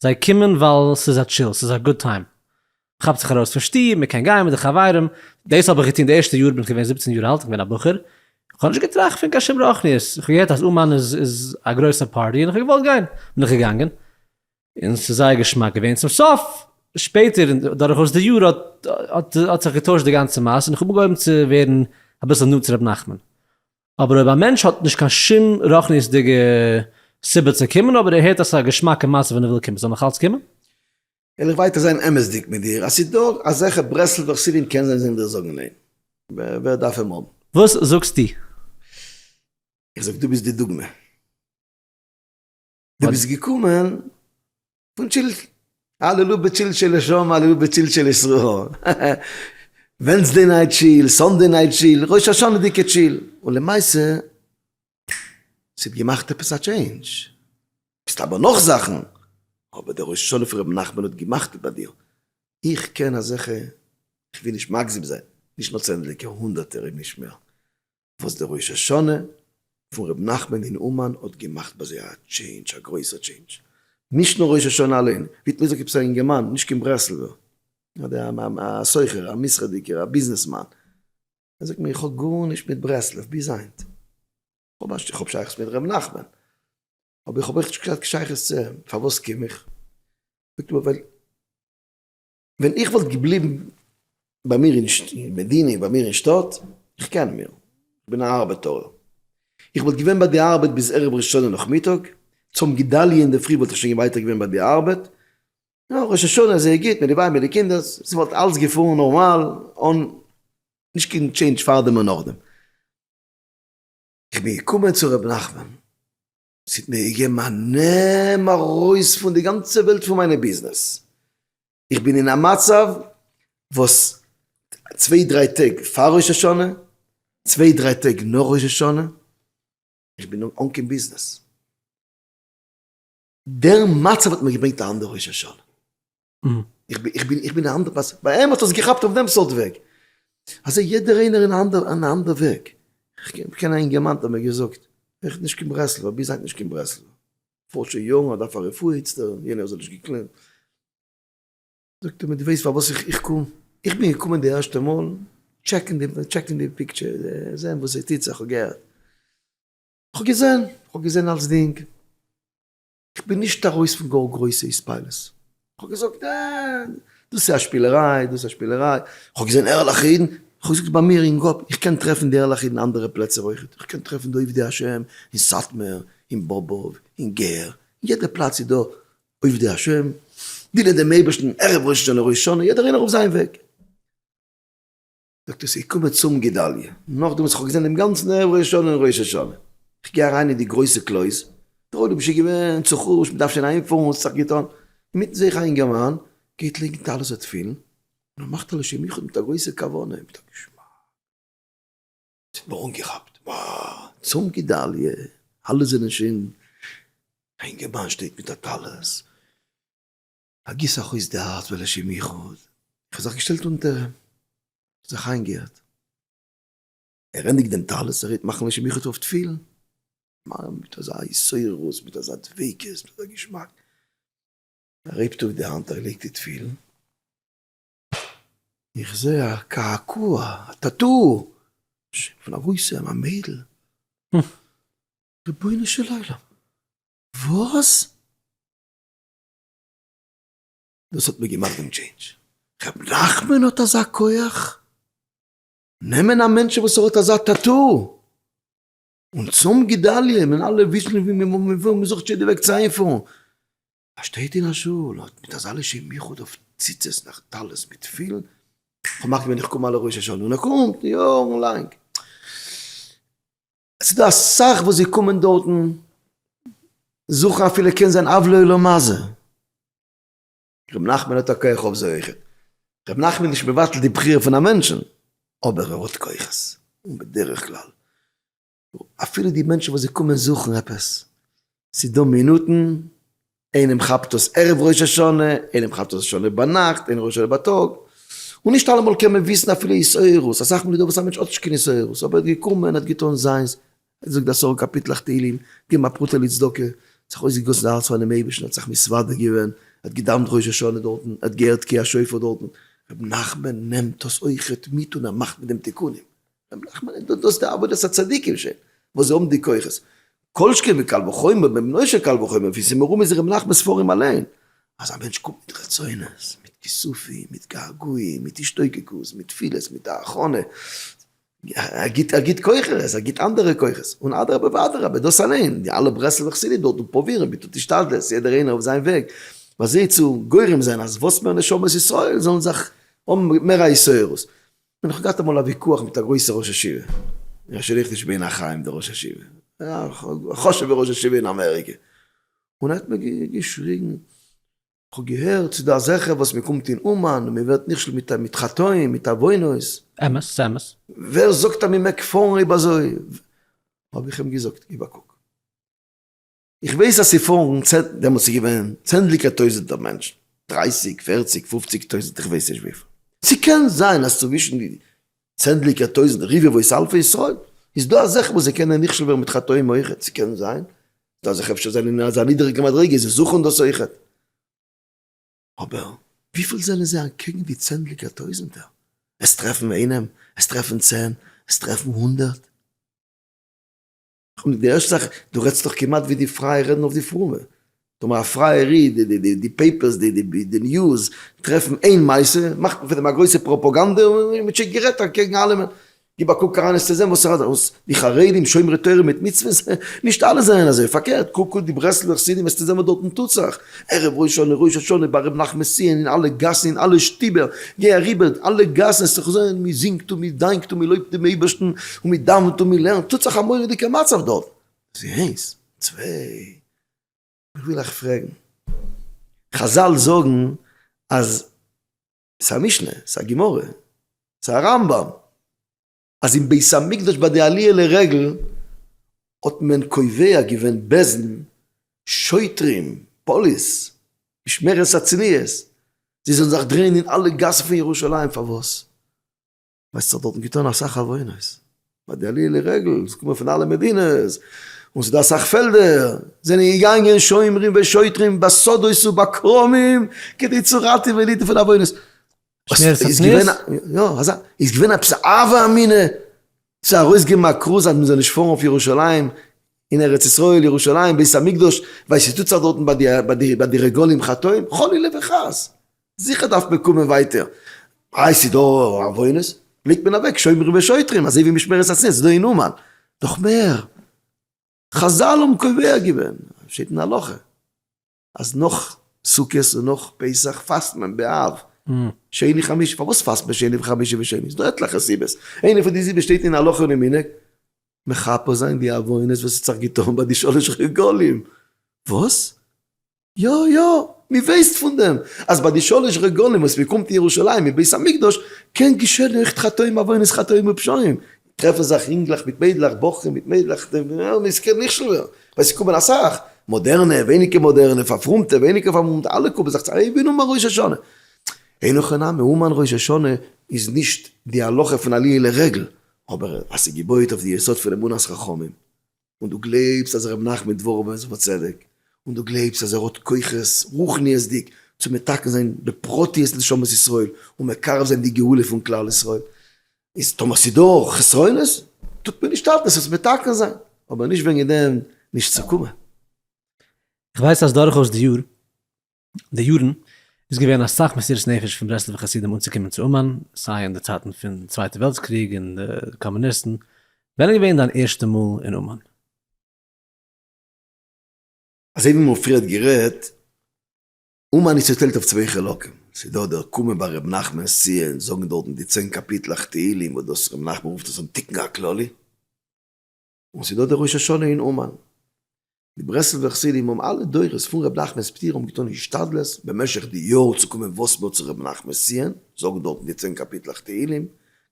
זיי קומען ווייל ס'איז א טשיל, ס'איז א גוד טיים. מ'כאפט זיך ארויס פון שטוב, מ'קען גיין מיט די חברים. דאס האב איך געטון די ערשטע יאר, בין איך געווען זיבצן יאר אלט, כ'בין א בחור, כ'האב נישט געטראכט פון קיין שום רוחניות, כ'האב געהערט אז אומאן איז איז א גרויסע פארטי און כ'האב געוואלט גיין, בין איך געגאנגען, און ס'איז זייער געשמאק געווען, צום סוף, שפעטער דורכאויס די יאר האט האט זיך געטוישט די גאנצע מעשה און כ'האב אנגעהויבן צו ווערן אביסל נאנט צו ר' נחמן. אבער אויב א מענטש האט נישט קיין שום רוחניות'דיגע סיבה צו קומען אבער ער הערט אז ס'איז א געשמאקע מעשה ווען ער וויל קומען זאל ער נאך אלץ קומען? וויל איך ווייטער זיין אמת'דיג מיט דיר, אז ס'איז דא אזעלכע ברסלב'ע חסידים קען זיין זיי ווילן זאגן ניין, ווער דארף אים האבן? וואס זאגסטו? איך זאג דו ביסט די דוגמא. דו ביסט געקומען פון טשילטש, הללו בטשילטשע לשם, הללו בטשילטשע לישראל. ווענסדי נייט טשיל, סאנדי נייט טשיל, ראש השנה'דיגע טשיל. און למעשה, ס'האט געמאכט עפעס א טשעינדזש. מסתבר נאך זאכן, אבער דער הושענא פון ר' נחמן האט געמאכט ביי דיר. איך קען אזעלכע, כ'וויל נישט מגזים זיין, נישט נאר צענדליגער, הונדערטער, אם נישט מער. וואס די ראש השנה פון ר' נחמן אין אומאן האט געמאכט ביי זיי א טשעינדזש, א גרויסע טשעינדזש, נישט נאר ראש השנה אליין, ווי האט מ'געזאגט עפעס א אינגערמאן, נישט קיין ברסלב'ער, א סוחר, א מסחר'דיגער, א ביזנעסמאן, ער זאגט מיר איך האב גארנישט מיט ברסלב ביז היינט, איך האב שייכות מיט ר' נחמן, אבער איך האב אויך נישט קיין שייכות צו אים, פארוואס קום איך? זאגט ער מיר ווייל. ווען איך וואלט געבליבן ביי מיר אין מדינה, ביי מיר אין שטאט, איך קען מיר, איך בין א ארבעטאר, איך וואלט געווען ביי די ארבעט ביז ערב ראש השנה נאכמיטאג, צום גדליה אינדערפרי וואלט איך שוין ווייטער געווען ביי די ארבעט, יא, ראש השנה זייער גוט מיט די ווייב מיט די קינדער, ס'וואלט אלץ געפארן נארמאל, אן נישט קיין טשעינדזש פארדעם און נאכדעם. איך בין געקומען צו ר' נחמן, ס'האט מיר געגעבן א נעם ארויס פון די גאנצע וועלט פון מיינע ביזנעס, איך בין אין א מצב וואס צוויי דריי טעג פאר ראש השנה, צוויי דריי טעג נאך ראש השנה, איך בין אן קיין ביזנעס, דער מצב האט מיר געברענגט א אנדערע ראש השנה. איך בין איך בין א אנדער פארסאן, ביי אים האט עס געכאפט אויף דעם סארט וועג, אזוי יעדער איינער אין א אנדער אין א אנדער וועג, איך קען א אינגערמאן האט מיר געזאגט, ער איז נישט קיין ברסלב'ער ביז היינט נישט קיין ברסלב'ער, פארט שוין יארן ער דארף א רפואה איצטער, יענער זאל נישט געקלערט, זאגט ער מיר דו ווייסט פארוואס איך איך קום, איך בין געקומען די ערשטע מאל טשעקן די טשעקן די פיקטשער זען וואס עס טוט זיך, איך האב געהערט, איך האב געזען, איך האב געזען אלצדינג. כ'בין נישט ארויס פון גאר גרויסע התפעלות. כ'האב געזאגט, אה, דאס איז א שפילעריי, דאס איז א שפילעריי. כ'האב געזען ערליכע אידן. כ'האב געזאגט ביי מיר אין קאפ, איך קען טרעפן די ערליכע אידן אנדערע פלעצער אויכעט. כ'קען טרעפן די עובדי השם אין סאטמאר, אין באבוב, אין גער, אין יעדע פלאץ איז דא עובדי השם, דינען דעם אייבערשטן ערב ראש השנה, ראש השנה, יעדער איינער אויף זיין וועג. זאגט ער ס'איז געקומען צום גדליה, נאכדעם וואס כ'האב געזען דעם גאנצן ערב ראש השנה און ראש השנה, כ'גיי אריין אין די גרויסע קלויז, דער עולם איז שוין געווען צו חרש, מ'דארף שוין אהיימפארן, האט זיך געטון, אינמיטן זעה איך א אינגערמאן גייט לייגן טלית און תפילין, און ער מאכט א לשם ייחוד מיט א גרויסע כוונה, מיט א געשמאק, ס'האט מיר אנגעכאפט, וואו! צום גדליה, אלע זענען שוין, א אינגערמאן שטייט מיט א טלית, א גיס אחוץ די הארץ ולשם יחוד, איך האב זיך געשטעלט אונטער אים, איך האב זיך איינגעהערט, ער ענדיגט דעם טלית, ער רעדט מאכן לשם יחוד אויף תפילין, מיין מיט אזא התעוררות, מיט אזא דביקות, מיט אזא געשמאק, ער הייבט אויף די האנט, ער לייגט די תפילין, איך זע א קעקוע, א טאטו, פון א גרויסע, א מיידל, רבונו של עולם, וואס? דאס האט מיר געמאכט דעם טשעינדזש. ר' נחמן האט אזא כח? נעמען א מענטשן וואס ער האט אזא טאטא? און צאם גדליה מען אלע וויסן ווי מען זוכט יעדע וועג צו איינפארן א שטעט אין א שול האט מיט אזא לשם יחוד אויף ציצות נאך טלית מיט תפילין כ'האב געמאכט ווען איך קום אלע ראש השנה און ער קומט יארן לאנג. עס איז דא אסאך וואס זיי קומען דארטן זוכן אפילו קען זיין עוולה עולה מזה. ר' נחמן האט א כח אויף זיי אויכעט. ר' נחמן איז נישט מבטל די בחירה פון א מענטשן, אבער ער האט כוחות, און בדרך כלל אפילו די מענטשן וואס זיי קומען זוכן עפעס, ס'איז דא מינוטן, איינעם כאפט עס ערב ראש השנה, איינעם כאפט עס ראש השנה ביינאכט, איינעם ראש השנה בייטאג, און נישט אלעמאל קען מען וויסן אפילו התעוררות, אסאך מאל איז דא וואס א מענטש האט נישט קיין התעוררות, אבער ער האט געקומען, ער האט געטון זיינס, ער האט געזאגט עשרה קאפיטלעך תהלים, געגעבן א פרוטה לצדקה, האט זיך אויסגעגאסן די הארץ פאר'ן אייבערשטן, ער האט זיך מסוודר געווען, ער האט געדאוונט ראש השנה דארטן, ער האט געהערט תקיעת שופר דארטן, ר' נחמן נעמט דאס אויכעט מיט און ער מאכט מיט דעם תיקונים. נחמן איז דאס די עבודת הצדיקים שוין וואס זיי האבן די כוחות, כל שכן וקל וחומר בן מנשה קל וחומר ווי ס'איז מרומז אין ר' נחמנ'ס ספרים אליין אז א מענטש קומט מיט רצונות, מיט כיסופים, מיט געגועים, מיט השתוקקות, מיט תפילות, מיט א הכנה, ער גיבט ער גיבט כוחות, ער גיבט אנדערע כוחות, און אדרבה ואדרבה דאס אליין, די אלע ברסלב'ע חסידים דארטן פרובירן מיט השתדלות יעדער איינער אויף זיין וועג בזה צו גורם זיין אז וואס מער נשמות ישראל זאלן זיך האבן מער א התעוררות, און איך האב געהאט אמאל א ויכוח מיט א גרויסע ראש ישיבה, איך שרייב נישט בין החיים דער ראש ישיבה, א חשוב'ע ראש ישיבה אין אמעריקע, און ער האט מיר געשריגן, כ'האב געהערט ס'איז דא אזעלכע וואס מען קומט אין אומאן און מען ווערט נכשל מיט חטאים מיט עוונות. אמת, ס'אמת. ווער זאגט אז מען מעג פארן אויב אזוי? האב איך אים געזאגט, גיב א קוק. איך ווייס אז ס'פארן צענ, דעמאלטס איז געווען צענדליגער טויזענטער מענטשן, דרייסיג, פערציג, פופציג טויזענט, איך ווייס נישט וויפיל. ס'קען זיין אז צווישן די צענדליגער טויזענט, רבבות אלפי ישראל, איז דא אזעלכע וואס זיי קענען נכשל ווערן מיט חטאים אויכעט, ס'קען זיין, ס'איז דא אזעלכע אפשר זענען אין אזא נידעריגע מדריגה, זיי זוכן דאס אויכעט. אבער וויפיל זענען זיי אנטקעגן די צענדליגער טויזענטער? עס טרעפן איינעם, עס טרעפן צען, עס טרעפן הונדערט. און די ערשטע זאך, דו רעדסט דאך כמעט ווי די פרייע רעדן אויף די פרומע. טאמער א פרייער איד, די פעיפערס, די ניוז, טרעפן איין מעשה, מאכט מען פון דעם א גרויסע פראפאגאנדע און מען טשיקט גערעדט אקעגן אלעמען. גיב א קוק אריין עסט צו זען וואס ס'רעדט אויס די חרדים שומרי תורה מיט מצוות, נישט אלע זענען אזוי, פארקערט קוק אויס די ברסלב'ע חסידים עסטו זען וואס דארטן טוט זיך. ערב ראש השנה ראש השנה ביי ר' נחמן סיען אין אלע גאסן אין אלע שטיבער גיי אריבער אלע גאסן עסט זיך זען מען זינגט און מען דאנקט און מען לויבט דעם אייבערשטן און מען דאווענט און מען לערנט טוט זיך א מורא'דיגע מצב דארט דאס איז איינס צוויי איך וויל אייך פרעגן חזל זאגן אז ס'איז א משנה ס'איז א גמרא ס'איז א רמב ם. אז אין בית המקדש ביי די עליה לרגל האט מען קובע געווען בעזן, שוטרים, פאליס, משמרת הצניעות, זיי זאלן זיך דרייען אין אלע גאסן פון ירושלים, פארוואס? ווייל ס'האט זיך דארטן געטון אסאך עוונות, ביי די עליה לרגל, עס קומען פון אלע מדינות, און ס'דא אסאך פעלדער, זענען געגאנגען שומרים ושוטרים בסודות ובכרמים כדי צו ראטעווען אידן פון עוונות. איז געווען יא אזא איז געווען עפעס א הווא אמינא צו ארויסגעבן א כרוז אז מען זאל נישט פארן אויף ירושלים אין ארץ ישראל ירושלים בית המקדש ווייל ס'טוט זיך דארטן ביי די ביי די ביי די רגלים חטאים חלילה וחס זיכער דארף מען קומען ווייטער איי ס'איז דא עוונות פליקט מען אוועק שומרים ושוטרים אזוי ווי משמרת הצניעות ס'איז דא אין אומאן נאך מער חזל האבן קובע געווען שטייט אין הלכה. אז נאך סוכות און נאך פסח פאסט מען ב ה שני חמישי, פארוואס פאסט מען שני וחמישי ושני? ס'איז דא עטליכע סיבות, איינע פון די סיבות שטייט אין הלכה און אין מנהג, מכפר זיין די עוונות וואס האט זיך געטון ביי די שלש רגלים. וואס? יא יא, מ'ווייסט פון דעם אז ביי די שלש רגלים וואס מ'קומט אין ירושלים אין בית המקדש קען געשען עכט חטאים עוונות חטאים ופשעים, טרעפן זיך אינגלעך מיט מיידלעך, בחורים מיט מיידלעך, דער עולם איז כעין מכשול ווערן, ווייל ס'קומט ווען אסאך, מאדערנע, ווייניגער מאדערנע, פארפרומטע, ווייניגער פארפרומטע, אלע קומען זיך צוזאם, הבינו מה ראש השנה. אין הכי נמי, המן ראש השנה איז נישט די הלכה פון עליה לרגל, אבער אז ס'געבויעט אויף די יסוד פון אמונת חכמים. און דו גלייבסט אז ר' נחמן דבורובער איז אויף א צדק, און דו גלייבסט אז ער האט כוחות רוחניות'דיג צו מתקן זיין בפרטיות נשמות ישראל און מקרב זיין די גאולה פון כלל ישראל, איז טאמער ס'איז דא חסרונות טוט מען נישט אלטס עס מתקן זיין, אבער נישט וועגן דעם נישט צו קומען. איך ווייס אז דורכאויס די יאר די יארן איז געווען אסאך מסירות נפש פון ברסלב'ע חסידים אנצוקומען צו אומאן, סיי אין די צייטן פון צווייטע וועלטס קריג און די קאמוניסטן, ווען איז געווען דיין ערשטע מאל אין אומאן? אזוי ווי מ'האט פריער גערעדט, אומאן איז צוטיילט אויף צוויי חלקים, ס'איז דא דער קומען ביי ר' נחמן'ס צו און זאגן דארטן די צען קאפיטלעך תהלים וואס דאס ר' נחמן רופט עס אן תיקון הכללי, און ס'דא די ראש השנה אין אומאן. די ברסלב'ער חסידים האבן אלע דורות פון ר' נחמנ'ס פטירה האבן געטון השתדלות במשך די יאר צו קומען וואס מער צו ר' נחמנ'ס ציון, זאגן דארטן די צען קאפיטלעך תהילים,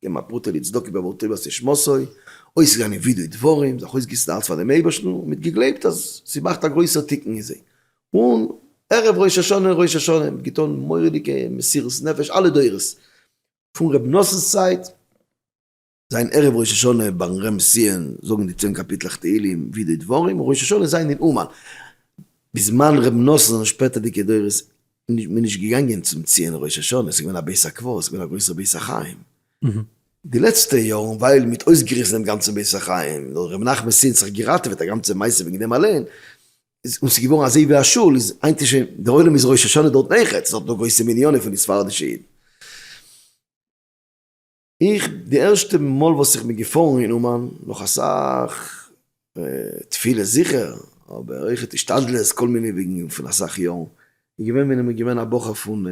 געבן א פרוטה לצדקה בעבור טובת איש מסור, אויסגעגאנגען ווידוי דברים, זיך אויסגעגעסן די הארץ פאר דעם אייבערשטן און מיט געגלייבט אז ס'מאכט א גרויסער תיקון אין זיי. און ערב ראש השנה און ראש השנה מיט געטון מורא'דיגע מסירות נפש אלע דורות פון ר' נתן'ס צייט, זיין ערב ראש השנה ביים רמב ם זאגן די צען קאפיטלעך תהילים ווי די דברים און ראש השנה זיין אין אומאן בזמן ר' נתן זענען שפעטערדיגע דורות מען נישט געגאנגען צום ציון ראש השנה ס'איז געווען א בית הקברות ס'איז געווען א גרויסער בית החיים די לעצטע יארן ווייל מ'האט אויסגעריסן דעם גאנצן בית החיים נאר ר' נחמנ'סין האט זיך געראטעוועט א גאנצע מעשה וועגן דעם אליין איז און ס'איז געווארן אזוי ווי א שול איז היינט איז שוין דער עולם איז ראש השנה דארט נעכעצט דארט נאר גרויסע מניינים פון די ספרדישע אידן. איך, די ערשטע מאל וואס איך בין געפארן אין אומאן, נאך אסאך תפילות זיכער, אבער אויכעט השתדלות, כל מיני וועגן פון אסאך יארן, איז געווען ווען איך בין געווען א בחור פון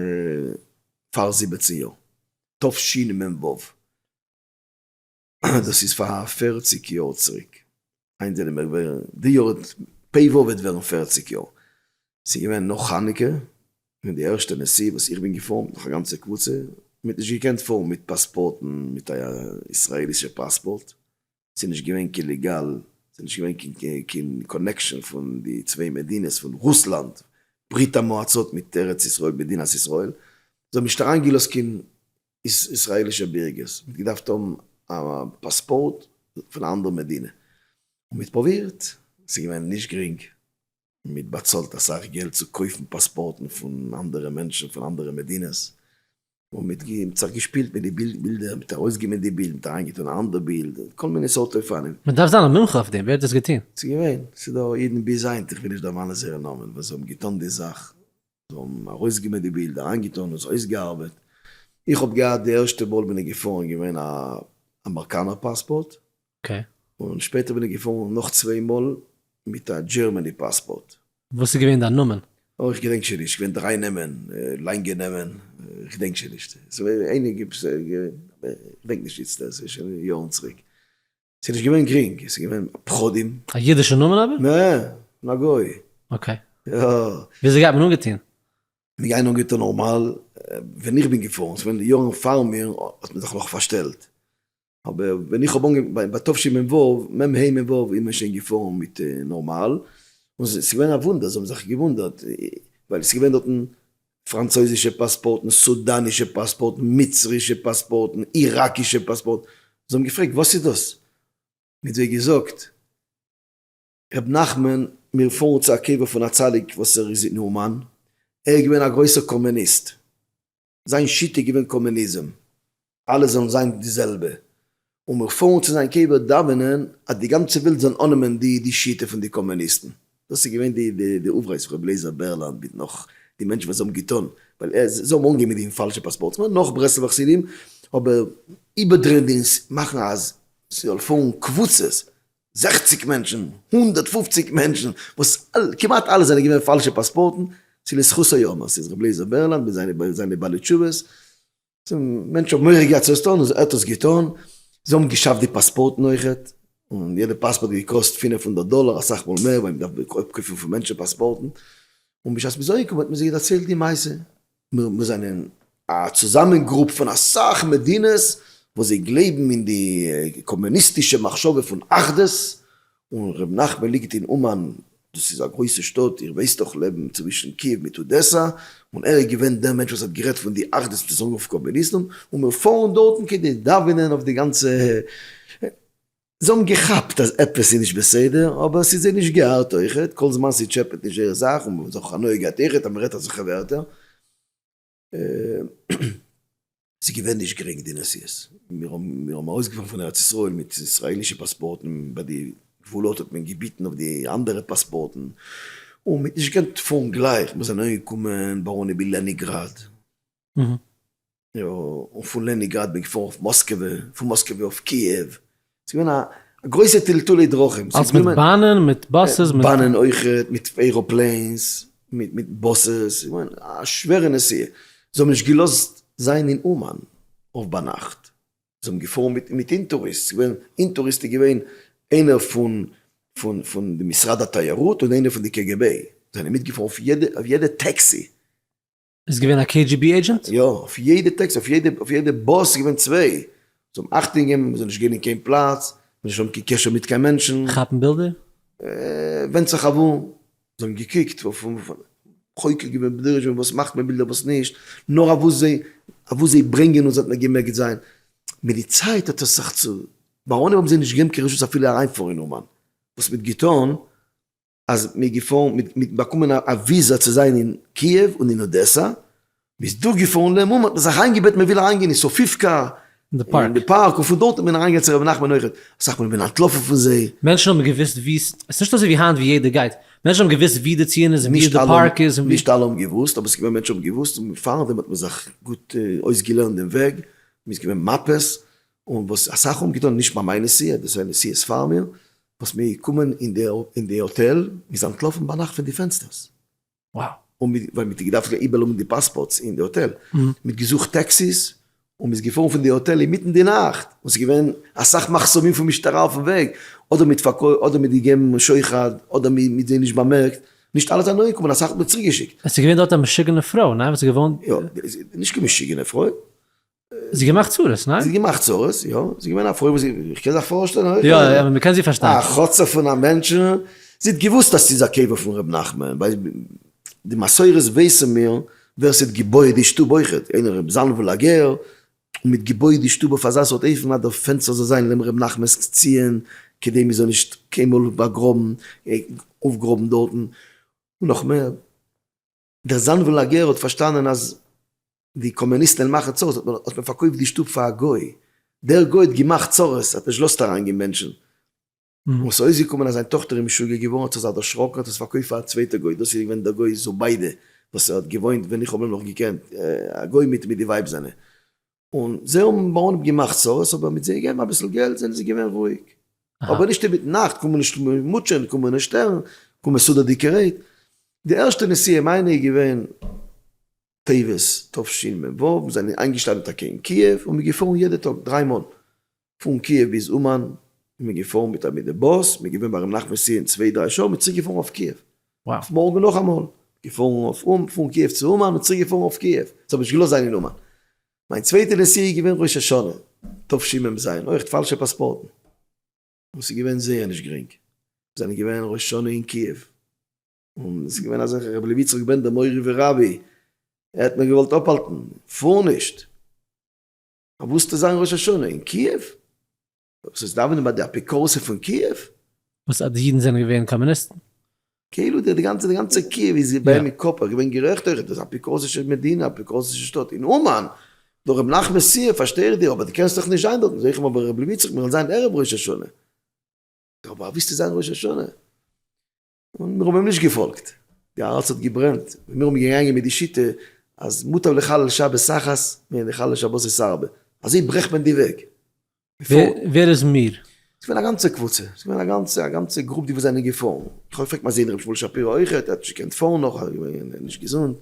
פאר זיבעצן יאר, תשי מ ו, דאס איז פאר פֿערציק יאר צוריק, היינט זענען מיר געווען, די יאר האט פ וו וועט ווערן פֿערציק יאר, ס'איז געווען נאך חנוכה, און די ערשטע נסיעה וואס איך בין געפארן מיט נאך א גאנצע קבוצה, מ'האט נישט געקענט פארן מיט פאספארטן, מיט א ישראלישע פאספארט, ס'איז נישט געווען קיין ליגאל, ס'איז נישט געווען קיין קאנעקשאן פון די צוויי מדינות, פון רוסלאנד, ברית המועצות, מיט ארץ ישראל, מדינת ישראל, זיי האבן נישט אריינגעלאזט קיין ישראל'ישע בירגערס, מ'האט געדארפט האבן א פאספארט פון א אנדערע מדינה, און מ'האט פרובירט, ס'איז געווען נישט גרינג, מ'האט באצאלט אסאך געלט צו קויפן פאספארטן פון אנדערע מענטשן פון אנדערע מדינות, און מ'האט זיך געשפילט מיט די בילדער, מ'האט ארויסגענומען די בילד, מ'האט אריינגעטון א אנדער בילד, און כל מיני סארט אופנים. מ'דארף זיין א מומחה אויף דעם, ווער האט דאס געטון? ס'איז געווען, ס'איז דא אידן ביז היינט, איך וויל נישט דערמאנען זייערע נאמען, וואס האבן געטון די זאך, זיי האבן ארויסגעמעט די בילד, אריינגעטון און עס אויסגעארבעט. איך האב געהאט די ערשטע מאל בין איך געפארן געווען א אמערקאנער פאספארט, און שפעטער בין איך געפארן נאך צוויי מאל מיט א דזשערמעני פאספארט. וואס איז געווען דיין נאמען? אוי איך געדענק שוין נישט, געווען דריי נעמען, לאנגע נעמען, איך געדענק שוין נישט, ס'איז געווען אייניגע, איך געדענק נישט איצטער, ס'איז שוין יארן צוריק. ס'איז נישט געווען גרינג, עס איז געווען פחדים. א אידישע נאמען אבער? נע, פון א גוי. אקעי. יא. וויאזוי גייט מען אנגעטון? מיר גייען אנגעטון נארמאל, ווען איך בין געפארן, ס'איז געווען די יארן פאר מיר, האט מען זיך נאך פארשטעלט. אבער ווען איך האב אנגעפ, ביי תשי מ ו, מ ה מ ו, איז מען שוין געפארן מיט נארמאל, און ס'איז געווען א וואונדער, זיי האבן זיך געוואונדערט, ווייל ס'איז געווען דארטן פראנצויזישע פאספארטן, סודאנישע פאספארטן, מצרישע פאספארטן, איראקישע פאספארטן, זיי האבן געפרעגט וואס איז דאס? מיט זיי געזאגט ר' נחמן מיר פארן צו א קבר פון א צדיק וואס ער איז אין אומאן, ער איז געווען א גרויסער קאמעניסט, זיין שיטה איז געווען קאמעניזם, אלע זאלן זיין די זעלבע, און מיר פארן צו זיין קבר דאווענען אז די גאנצע וועלט זאל אננעמען די די שיטה פון די קאמוניסטן. דאס איז געווען די די די אויפרייס פון ר' לעיזער בערלאנד מיט נאך די מענטשן וואס זיי האבן געטון, ווייל ער זיי האבן אנגעגעבן מיט די פאלשע פאספארטס מער נאך ברסלב'ע חסידים, אבער איבערדרייען די און מאכן אז ס'זאל פארן קבוצות, זעכציג מענטשן, הונדערט פֿופֿציק מענטשן, וואס כמעט אלע זענען געווען פאלשע פאספארטן, צו לזכותו יאמר, ס'איז ר' לעיזער בערלאנד מיט זיינע זיינע בעלי תשובות, מענטשן האבן מורא געהאט צו עס טון, און ער האט עס געטון. זיי האבן געשאפט די פאספארטן אויכעט, און יעדע פאספארט האט געקאסט פֿינף הונדערט דאלער, אסאך מאל מער, ווייל מען דארף אפקויפן פון מענטשן פאספארטן. און בשעת מ'איז אנגעקומען האט מען זיי דערציילט די מעשה. מיר זענען א צוזאמען גרופ פון אסאך מדינות וואס זיי גלייבן אין די קאמוניסטישע מחשבה פון אחדות, און ר' נחמן ליגט אין אומאן, דאס איז א גרויסע שטאט, איר ווייסט דאך, לעבן צווישן קיעוו מיט אודעסא, און ער איז געווען דער מענטש וואס האט גערעדט פון די אחדות מיט די סאראוו קאמוניסטן, און מיר פארן דארטן כדי דאווענען אויף די גאנצע ה י. זיי האבן געכאפט אז עפעס איז נישט בסדר, אבער ס'איז זיי נישט געארט אויכעט, כל זמן ס'טשעפעט נישט זייער זאך, און מ'האט זיך אויך הנאה געהאט אויכעט אז מ'רעדט אזעלכע ווערטער. ס'איז געווען נישט גרינג די נסיעות, מיר האבן ארויסגעפארן פון ארץ ישראל מיט ישראל'ישע פאספארטן, ביי די גבולות האט מען געביטן אויף די אנדערע פאספארטן, און מ'האט נישט געקענט פארן גלייך, מיר זענען אנגעקומען בארוניבי לענינגראד, און פון לענינגראד בין געפארן אויף מאסקעווע, פון מאסקעווע אויף קיעוו, ס'איז געווען א גרויסע טלטולי דרכים. אלס מיט באנען, מיט באסעס, מיט. באנען אויכעט, מיט עראפלעינס, מיט באסעס, א שווערע נסיעה. זיי האבן נישט געלאזט זיין אין אומאן אויף ביינאכט. זיי האבן געפארן מיט מיט אינטוריסט, ס'איז געווען, אינטוריסט איז געווען איינער פון פון די משרד התיירות און איינער פון די קעגעבעי. זענען מיטגעפארן אויף יעדע טעקסי. איז געווען א קעי דזשי בי עידזשענט? יא, אויף יעדע טעקסי, אויף יעדע באס איז געווען צוויי. זיי האבן אכטונג געגעבן מ'זאל נישט גיין אין קיין פלאץ, מ'זאל נישט האבן קיין קשר מיט קיין מענטשן. כאפן בילדער? ווענדט זיך אוואו. זיי האבן געקוקט וואס חוקר געווען בדורש ווען וואס מאכט מען בילדער וואס נישט, נאר אוואו זיי אוואו זיי ברענגען אונז האט מען געמעקט זיין. מיט די צייט האט עס זיך צו. בארונים האבן זיי נישט געגעבן קיין רשות אפילו אריינפארן אין אומאן. וואס מ'האט געטון. אז מ'איז געפארן מיט מיט באקומען א וויזא צו זיין אין קיעוו און אין אודעסא, מ'איז דורכגעפארן לעם אומאן, האט מען זיך איינגעבעטן מ'וויל אריינגיין אין סאפיווקא, אין די פארק, און פון דארט איז מען אריינגעגאנגען צו רבי נחמן אויכעט, אסאך מאל איז מען אנטלאפן פון זיי. מענטשן האבן געוואוסט וואו, ס'איז נישט אזויווי היינט וואו יעדער גייט, מענטשן האבן געוואוסט וואו די ציון איז און וואו די פארק איז און וואו. נישט אלע האבן געוואוסט, אבער ס'איז געווען מענטשן האבן געוואוסט, און פארדעם האט מען זיך גוט אויסגעלערנט דעם וועג, מ'איז געווען מאפעס, און וואס אסאך האבן געטון נישט ביי מיין נסיעה, דאס איז נסיעות פאר מיר, וואס מיר קומען אין די האטעל, מיר זענען אנטלאפן ביינאכט פון די פענסטערס, און מיר, ווייל מיר האט געדארפט איבערלאזן די פאספארטס אין די האטעל, מיר האט געזוכט טעקסיס, און מיר איז געפארן פון די האטעל אינמיטן די נאכט, און ס'איז געווען אסאך מחסומים פון משטרה אויפן וועג, אדער מיט פארקויפט, אדער מיט געגעבן שוחד, אדער מיט זיי נישט באמערקט, נישט אלע זענען אנגעקומען, אסאך האט מען צוריק געשיקט. עס איז געווען דארט א משוגענע פרוי, ניין? וואס איז געווארן? יא, נישט קיין משוגענע פרוי, זי געמאכט צרות, ניין? זי האט געמאכט צרות, יא. זי איז געווען א פרוי וואס זי, איך קען זיך פארשטעלן אויך. יא, יא, אבער מ'קען זי פארשטיין. א חצוף פון א מענטש. זי האט געוואוסט אז ס'איז א קבר פון ר' נחמן, ווייל די מסורות ווייסן מיר ווער ס'האט געבויעט די שטוב אויך, איינער ר' זאנוויל א גר, און מ'האט געבויעט די שטוב אויף אזא סארט אופן אז דער פענסטער זאל זיין לעבן ר' נחמנ'ס ציון, כדי מ'זאל נישט קיינמאל באגראבן, אויפגראבן דארטן. און נאך מער. דער זאנוולאגער האט פארשטאנען אז די קאמוניסטן וועלן מאכן צרות האט מען האט מען פארקויפט די שטוב פאר א גוי, דער גוי האט געמאכט צרות האט נישט געלאזט אריין גיין מענטשן, און וואס איז אויסגעקומען אז זיין טאכטער איז משוגע געווארן האט זיך זיי דערשראקן האט עס פארקויפט פאר א צווייטע גוי דאס איז געווען דער גוי זוביידע וואס האט געוואוינט ווען איך האב אים נאך געקענט א גוי מיט מיט די ווייב זיינע און זיי האבן בה אנהייב געמאכט צרות, אבער מיט זיי געבן אביסל געלט זענען זיי געווען רואיג. אבער נישט איבער נאכט, קען מען נישט מוטשען, קען מען נישט שטערן, קען מען סדר די קערעט. די ערשטע נסיעה מיינע איז געווען טבת תשמ ו, מיר זענען איינגעשטאנען טאקע אין קיעוו און מיר געפארן יעדע טאג דריי מאל. פון קיעוו ביז אומאן איז מען געפארן מיט א מיני באס, מען געווען ביי ר' נחמן סיע אין צוויי דריי שעה, מען צוריק געפארן אויף קיעוו, אויף מארגן נאכאמאל, געפארן אויף אום פון קיעוו צו אומאן און צוריק געפארן אויף קיעוו, ס'האט מיר נישט געלאזט זיין אין אומאן, מיין צווייטע נסיעה איז געווען ראש השנה תשי מ זיין אויכט פאלשע פאספארטן, און ס'איז געווען זייער נישט גרינג, מיר זענען געווען ראש השנה אין קיעוו, און עס איז געווען אזעלכע רבי לוי יצחק בענדער מורי ורבי, ער האט מיר געוואלט אפהאלטן, פאר נישט. וואס טוט זיין ראש השנה אין קיעוו? וואס איז דאווענען ביי די אפיקורסים פון קיעוו? וואס אז די אידן זענען געווען קאמוניסטן? כאילו די גאנצע די גאנצע קיעוו איז יא ביים אין קאפ, ער געווען גערעכט אויכעט, דאס אפיקורסישע מדינה, אפיקורסישע שטאט אין אומאן, דורך רבי נחמן סיער פארשטיי איך דיר, אבער די קענסט דאך נישט זיין דארט, איז אויך אבער רבי איציק מיר וויל זיין ערב ראש השנה. טא אבער וואס טוט זיין ראש השנה? און מיר האבן אים נישט געפאלגט, די הארץ האט געברענט, און מיר האבן געגאנגען מיט די שיטה אז מוטב לחלל שבת אחת מן לחלל שבת ארבע, אזוי ברעכט מען די וועג. ווער איז מיר? ס'איז געווען א גאנצע קבוצה, ס'איז געווען א גאנצע א גאנצע גרופ די וואס זענען געפארן, איך האב געפרעגט מיין זון ר' שמואל שפירא אויכעט, ער האט נישט געקענט פארן נאך, ער איז נישט געזונט,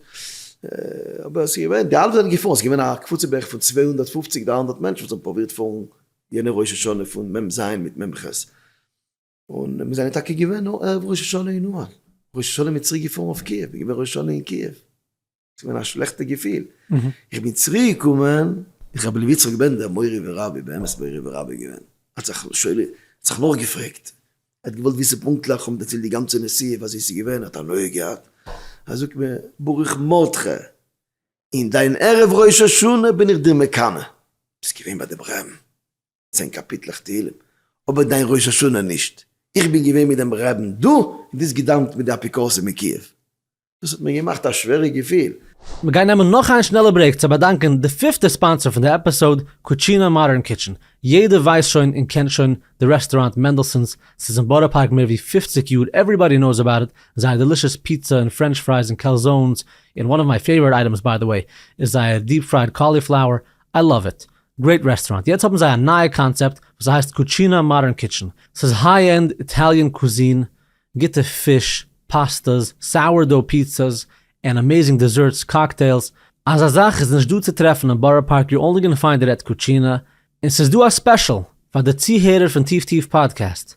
אבער ס'איז געווען, די אלע זענען געפארן, ס'איז געווען א קבוצה בערך פון צוויי הונדערט פֿופֿציק דרײַ הונדערט מענטשן וואס האבן פרובירט פארן יענע ראש השנה פון מ ז מיט מ ח. און מיר זענען טאקע געווען נאר ערב ראש השנה אין אומאן, ראש השנה מיר צוריק געפארן אויף קיעוו, מיר געווען ראש השנה אין קיעוו, ס'איז געווען א שלעכטע געפיל, איך בין צוריק געקומען, איך האב ר' יצחק בענדער מורי ורבי, באמת מורי ורבי געווען, האט זיך שואל, זיך נאכגעפרעגט, ער האט געוואלט וויסן פונקטליך, כ'האב אים דערציילט די גאנצע נסיעה ווי אזוי ס'איז געווען, ער האט הנאה געהאט, ער זאגט מיר, ברוך מרדכי, אין דיין ערב ראש השנה בין איך דיר מקנא, ביסט געווען ביי די ברעם. צען קאפיטלעך תהילים, אבער דיין ראש השנה נישט. איך בין געווען מיט דעם רעבין דא און דאס געדאוונט מיט די אפיקורסים אין קיעוו. דאס האט מיר געמאכט א שווערע געפיל. מיר גייען נעמען נאך איין שנעלע ברעיק צו באדאנקען די פיפטע ספאנסער פון די עפיסאוד, קוטשינא מאדערן קיטשען. יעדער ווייסט שוין און קען שוין די רעסטוראנט מענדעלסאן'ס, ס'איז אין בארא פארק מער ווי פופציג יאר, עווריבאדי נאוס אבאוט איט, זייער דעלישעס פיצא און פרענטש פרייס און קעלזאונס, און וואן אוו מיי פעיווארעט אייטעמס ביי די וועי איז זייער דיעפ פרייד קאליפלאוער, איי לאוו איט. גרעיט רעסטוראנט, יעצט האבן זיי א נייע קאנצעפט וואס הייסט קוטשינא מאדערן קיטשען, ס'איז היי ענד איטאליען קוזין, גוטע פיש, פאסטעס, סאוער דאו פיצא'ס, און אמעזינג דעזערטס, קאקטעילס, אזא זאך איז נישט דא צו טרעפן אין בארא פארק יו אנלי גאנא פיינד איט עט קוטשינא, און ס'איז דא א ספעשל פאר די צוהערער פון טיף טיף פאדקעסט,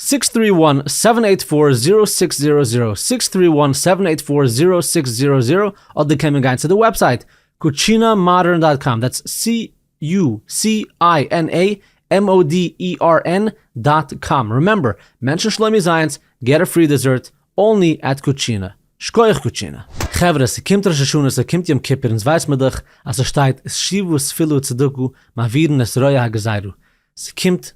סיקס טרי וואן סעווען עיט פאר זירא סיקס זירא זירא, סיקס טרי וואן סעווען עיט פאר זירא סיקס זירא זירא, אדער קען מען גיין צו די וועבסייט קוטשינא מאדערן דאט קאם דעטס סי יו סי איי ען עי עם או די אי אר ען דאט קאם רימעמבער מענטשן שלומי זייענס געט א פרי דעזערט אנלי עט קוטשינא שקויעך קוטשינא. חברה, ס'קומט ראש השנה, ס'קומט יום כיפור, אונז ווייס מיר דאך אז ס'שטייט, שיבו ספילו וצדקו מעבירין את רוע הגזירה, ס'קומט,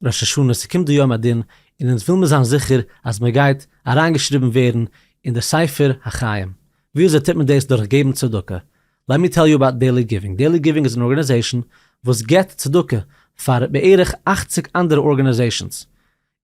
ראש השנה, ס'קומט די יום הדין, און אונז וויל מיר זיין זיכער אז מען גייט אריינגעשריבן ווערן אין די ספר החיים. ווי אזוי טוט מען דאס? דורך געבן צדקה. לעט מי טעל יו אבאוט דעילי גיווינג. דעילי גיווינג איז אן ארגאניזעישאן וואס גיבט צדקה פאר בערך אַכציק אנדערע ארגאניזעישאנס,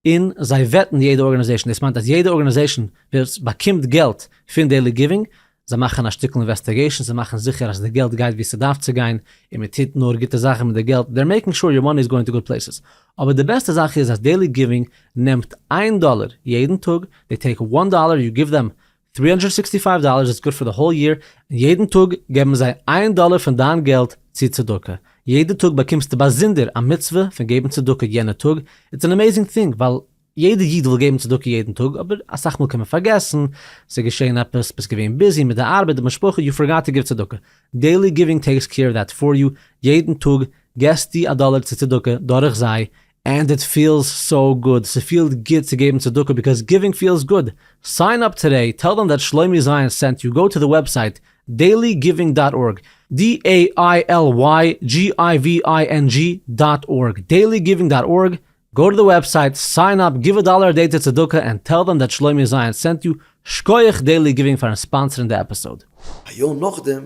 און זיי וועטן יעדע ארגאניזעישאן, דאס מיינט אז יעדע ארגאניזעישאן וואס באקומט געלט פון דעילי גיווינג זיי מאכן א שטיקל אינוועסטיגעישן צו מאכן זיכער אז די געלט גייט ווי ס'דארף צו גיין, און מען טוט נאר גוטע זאכן מיט די געלט, דער מעיקינג שור יור מאני איז גאוינג טו גוד פלעיסעס. אבער די בעסטע זאך איז אז דעילי גיווינג נעמט איין דאלער יעדן טאג, דעי טעיק וואן דאלער יו גיוו דעם טרי האנדרעד סיקסטי פייוו דאלערס איטס גוד פאר די האול יעיר, און יעדן טאג געבן זיי איין דאלער פון דיין געלט צו צדקה, יעדע טאג באקומסטו באזונדער א מצוה פון געבן צדקה יענע טאג, איטס ען עמעיזינג טינג ווייל יעדע איד וויל געבן צדקה יעדן טאג, אבער אסאך מאל קען מען פארגעסן, ס'איז געשען עפעס, ביסט געווען ביזי מיט די ארבעט, די משפחה, יו פארגאט טו גיוו צדקה. דעילי גיווינג טעיקס קעיר אוו דעט פאר יו, יעדן טאג געסטו א דאלער צו צדקה דורך זיי, ענד איט פיעלס סאו גוד, ס'פיעלט גוט צו געבן צדקה ביקאוז גיווינג פיעלס גוד, סיין אפ טודעי, טעל דעם דעט שלומי זיון סענט יו, גאו טו די וועבסייט, דעילי גיווינג דאט ארג, DAILYGIVING דאט ארג, דעילי גיווינג דאט ארג, גאו טו די וועבסייט, סיין אפ, גיוו א דאלער א דעי טו צדקה ענד טעל דעם דעט שלומי זיון סענט יו, שקויעך דעילי גיווינג פארן ספאנסערן די עפיסאוד. א יאר נאכדעם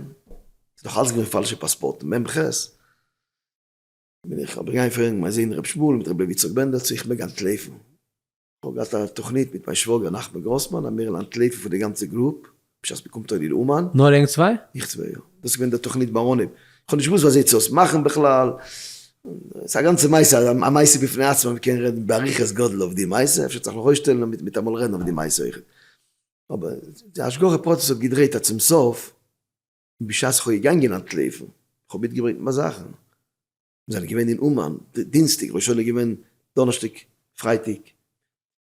איז נאך אלץ געווען פאלשע פאספארטן, מ ח בין איך אבער געגאנגען פרעגן מיין זון ר' שמואל מיט ר' לוי יצחק בענדער צו איך מעג אנטלויפן, איך האב געהאט א תוכנית מיט מיין שוואגער נחמן גראסמאן אז מיר וועלן אנטלויפן פון די גאנצע גרופ, בשעת מ'קומט אן איר אומאן. נאר ענק צוויי? איך צוויי, יא. דאס איז געווען דער תוכנית בארונים. כ'האב נישט געוואוסט וויאזוי צו עס מאכן בכלל. ס'איז א גאנצע מעשה, א מעשה בפני עצמו, מ'קען רעדן באריכות גדול אויף די מעשה, אפשר צריך מיך אויסשטעלן און מיטאמאל רעדן אויף די מעשה אויכעט. אבער די השגחה פרטית האט געדרעהט אז צום סוף, בשעת כ'האב געגאנגען אנטלויפן, כ'האב מיטגעברענגט מיין זאכן. מיר זענען געווען אין אומאן דינסטאג, ר' שאול איז געווען דאנערשטאג, פרייטאג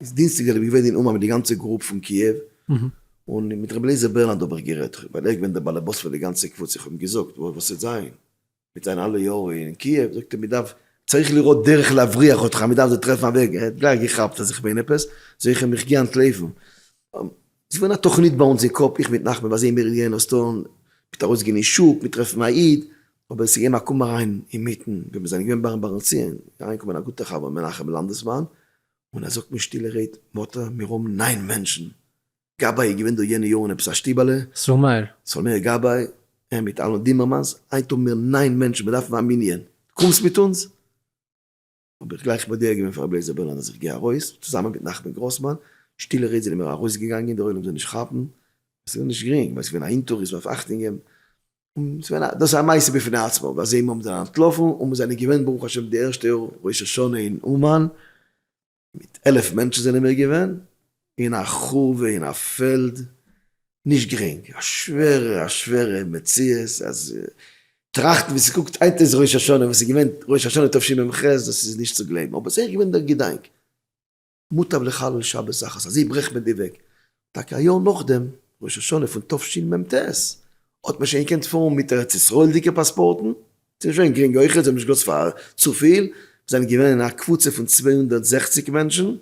איז דינסטאג זענען מיר געווען אין אומאן מיט די גאנצע גרופ פון קיעוו, און מיט ר' אליעזר ברלנד האב איך גערעדט, ווייל ער איז געווען דער באלעבאס פון די גאנצע קבוצה, איך האב אים געזאגט וואס וועט זיין מיט זיין אלע יארן אין קיעוו, זאגט ער מען דארף, צריך לראות דרך להבריח אותך, מען דארף זיי טרעפן א וועג, ער האט גלייך געכאפט אז איך מיין עפעס, זיי איך אים איך גיי אנטלויפן, איז געווען א תוכנית ביי אונז אין קאפ, איך מיט נחמן באזעהן מיר גייען עס טון, מיט ארויסגיין אין שוק, מיט טרעפן א איד, אבער עס איז געווען מקום אריין אינמיטן ווען מיר זענען געווען ביים בארנציען, איז אריינגעקומען א גוטער חבר מנחם לאנדעסמאן, און ער זאגט מיט שטילע רעד, מאטע, מיר האבן ניין מענטשן, גבאי איז געווען דא יענע יארן אין עפעס א שטיבעלע, סאלמעיר, סאלמעיר גבאי, ער מיט אלון דיממערמאנס, היינט האבן מיר ניין מענטשן, מיר דארפן א מנין, קומסט מיט אונז? האב איך גלייך מודיע געווען פאר רבי אליעזר בערלאנד אז איך גיי ארויס, צוזאמען מיט נחמן גראסמאן, שטילע רעדט זענען מיר ארויסגעגאנגען, דער עולם זאל נישט כאפן, עס איז נישט גרינג, ווייל עס איז געווען א אינטערוויו, עס דארף אכטונג געבן, און עס איז געווען א, דאס איז א מעשה בפני עצמו, ווי אזוי מיר האבן זיי אנטלאפן, און מיר זענען געווען ברוך השם די ערשטע יאר ראש השנה אין אומאן, מיט עלף מענטשן זענען מיר געווען, אין א חורבה אין א פעלד, נישט גרינג, א שווערע א שווערע מציאות, אז טראכטן ווי ס'קוקט היינט אויס ראש השנה, וואס איז געווען ראש השנה תשמ ח, דאס איז נישט צו גלייבן, אבער זייער געווען דער געדאנק, מוטב לחלל שבת אחת, אזוי ברעכט מען די וועג, טאקע א יאר נאכדעם, ראש השנה פון תשמ ט, האט מען שוין געקענט פארן מיט ארץ ישראל'דיגע פאספארטן, ס'איז נישט געווען גרינג אויכעט, זיי האבן נישט געלאזט פאר צופיל, מיר זענען געווען אין א קבוצה פון צוויי הונדערט זעכציק מענטשן,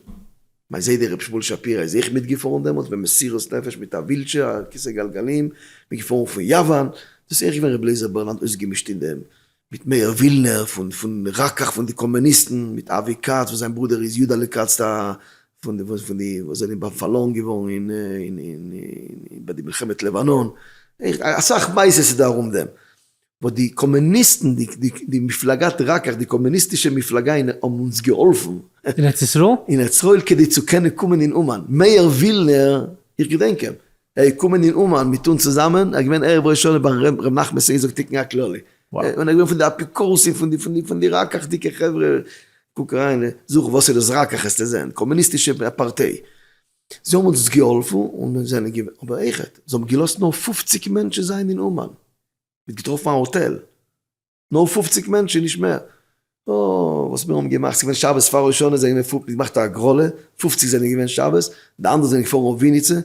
מיין זיידע ר' שמואל שפירא איז אויך מיטגעפארן דעמאלטס במסירות נפש מיט א ווילטשער א כסא גלגלים, מיר געפארן פון יאוואן, דאס איז ערשט געווען ר' לעזער ברלנד אויסגעמישט אין דעם, מיט מאיר ווילנער פון רקח פון די קאמוניסטן, מיט אבי כץ וואס זיין ברודער איז יודעלע כץ ט א פון די וואס זענען בה פארלוירן געווארן אין אין אין ביי די מלחמת לבנון, אסאך מעשה'ס איז דא ארום דעם. וואס די קאמעניסטן די די די מפלגת רקח די קאמעניסטישע מפלגה אין האבן אונז געהאלפן. אין ארץ ישראל? אין ארץ ישראל כדי צו קענען קומען אין אומאן. מאיר ווילנער, איך געדענק אים, ער איז געקומען אין אומאן מיט אונז צוזאמען, ער איז געווען ערב ראש השנה ביי ר' נחמן סעיז זאגט תיקון הכללי. און ער איז געווען פון די אפיקורסים פון די פון די רקח'דיגע חברה. קוק אריין, זוך וואס איז דאס רקח העסטו זען, קאמעניסטישע פארטיי. זיי האבן אונז געהאלפן און זענען געווען, אבער עכ ז, זיי האבן געלאזט נאר פֿופֿציק מענטשן זיין אין אומאן. מ'האט געטראפן א האטעל. נאר פופציג מענטשן, נישט מער. אוי, וואס מיר האבן געמאכט. ס'איז געווען שבת פאר ראש השנה, זיי האבן געמאכט, געמאכט א הגרלה. פופציג זענען געווען שבת, די אנדערע זענען געפארן אויף וויניצע.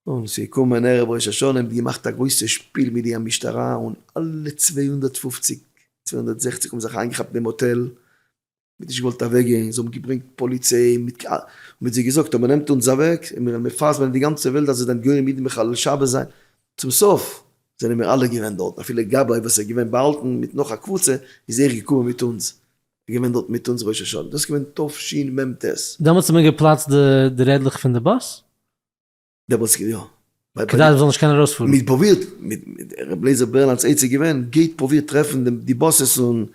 און ס'איז געקומען ערב ראש השנה, מ'האט געמאכט א גרויסע שפיל מיט די המשטרה, און אלע צוויי הונדערט פופציג, צוויי הונדערט זעכציג האבן זיך איינגעכאפט אין דעם האטעל. מען האט נישט געוואלט אוועק גיין, זיי האבן געברענגט פאליציי, מען האט זיי געזאגט אז מען נעמט אונז אוועק און מיר וועלן מפרסם זיין אין די גאנצע וועלט אז איר זענט גורם אידן מחלל שבת זיין, צום סוף זענען מיר אלע געווען דארטן, אפילו גבאי וואס איז געווען באהאלטן מיט נאך א קבוצה איז ער געקומען מיט אונז, ער איז געווען דארט מיט אונז ראש השנה, דאס איז געווען תשמ ט. דעמאלטס האט מען געפלאצט די רעדלעך פון די באס? דער וואס יא. כדי מ'זאל נישט קענען ארויספארן. מ'האט פרובירט, ר' לעיזער ברענאנד'ס עצה איז געווען, גייט פרובירט טרעפן די באסעס און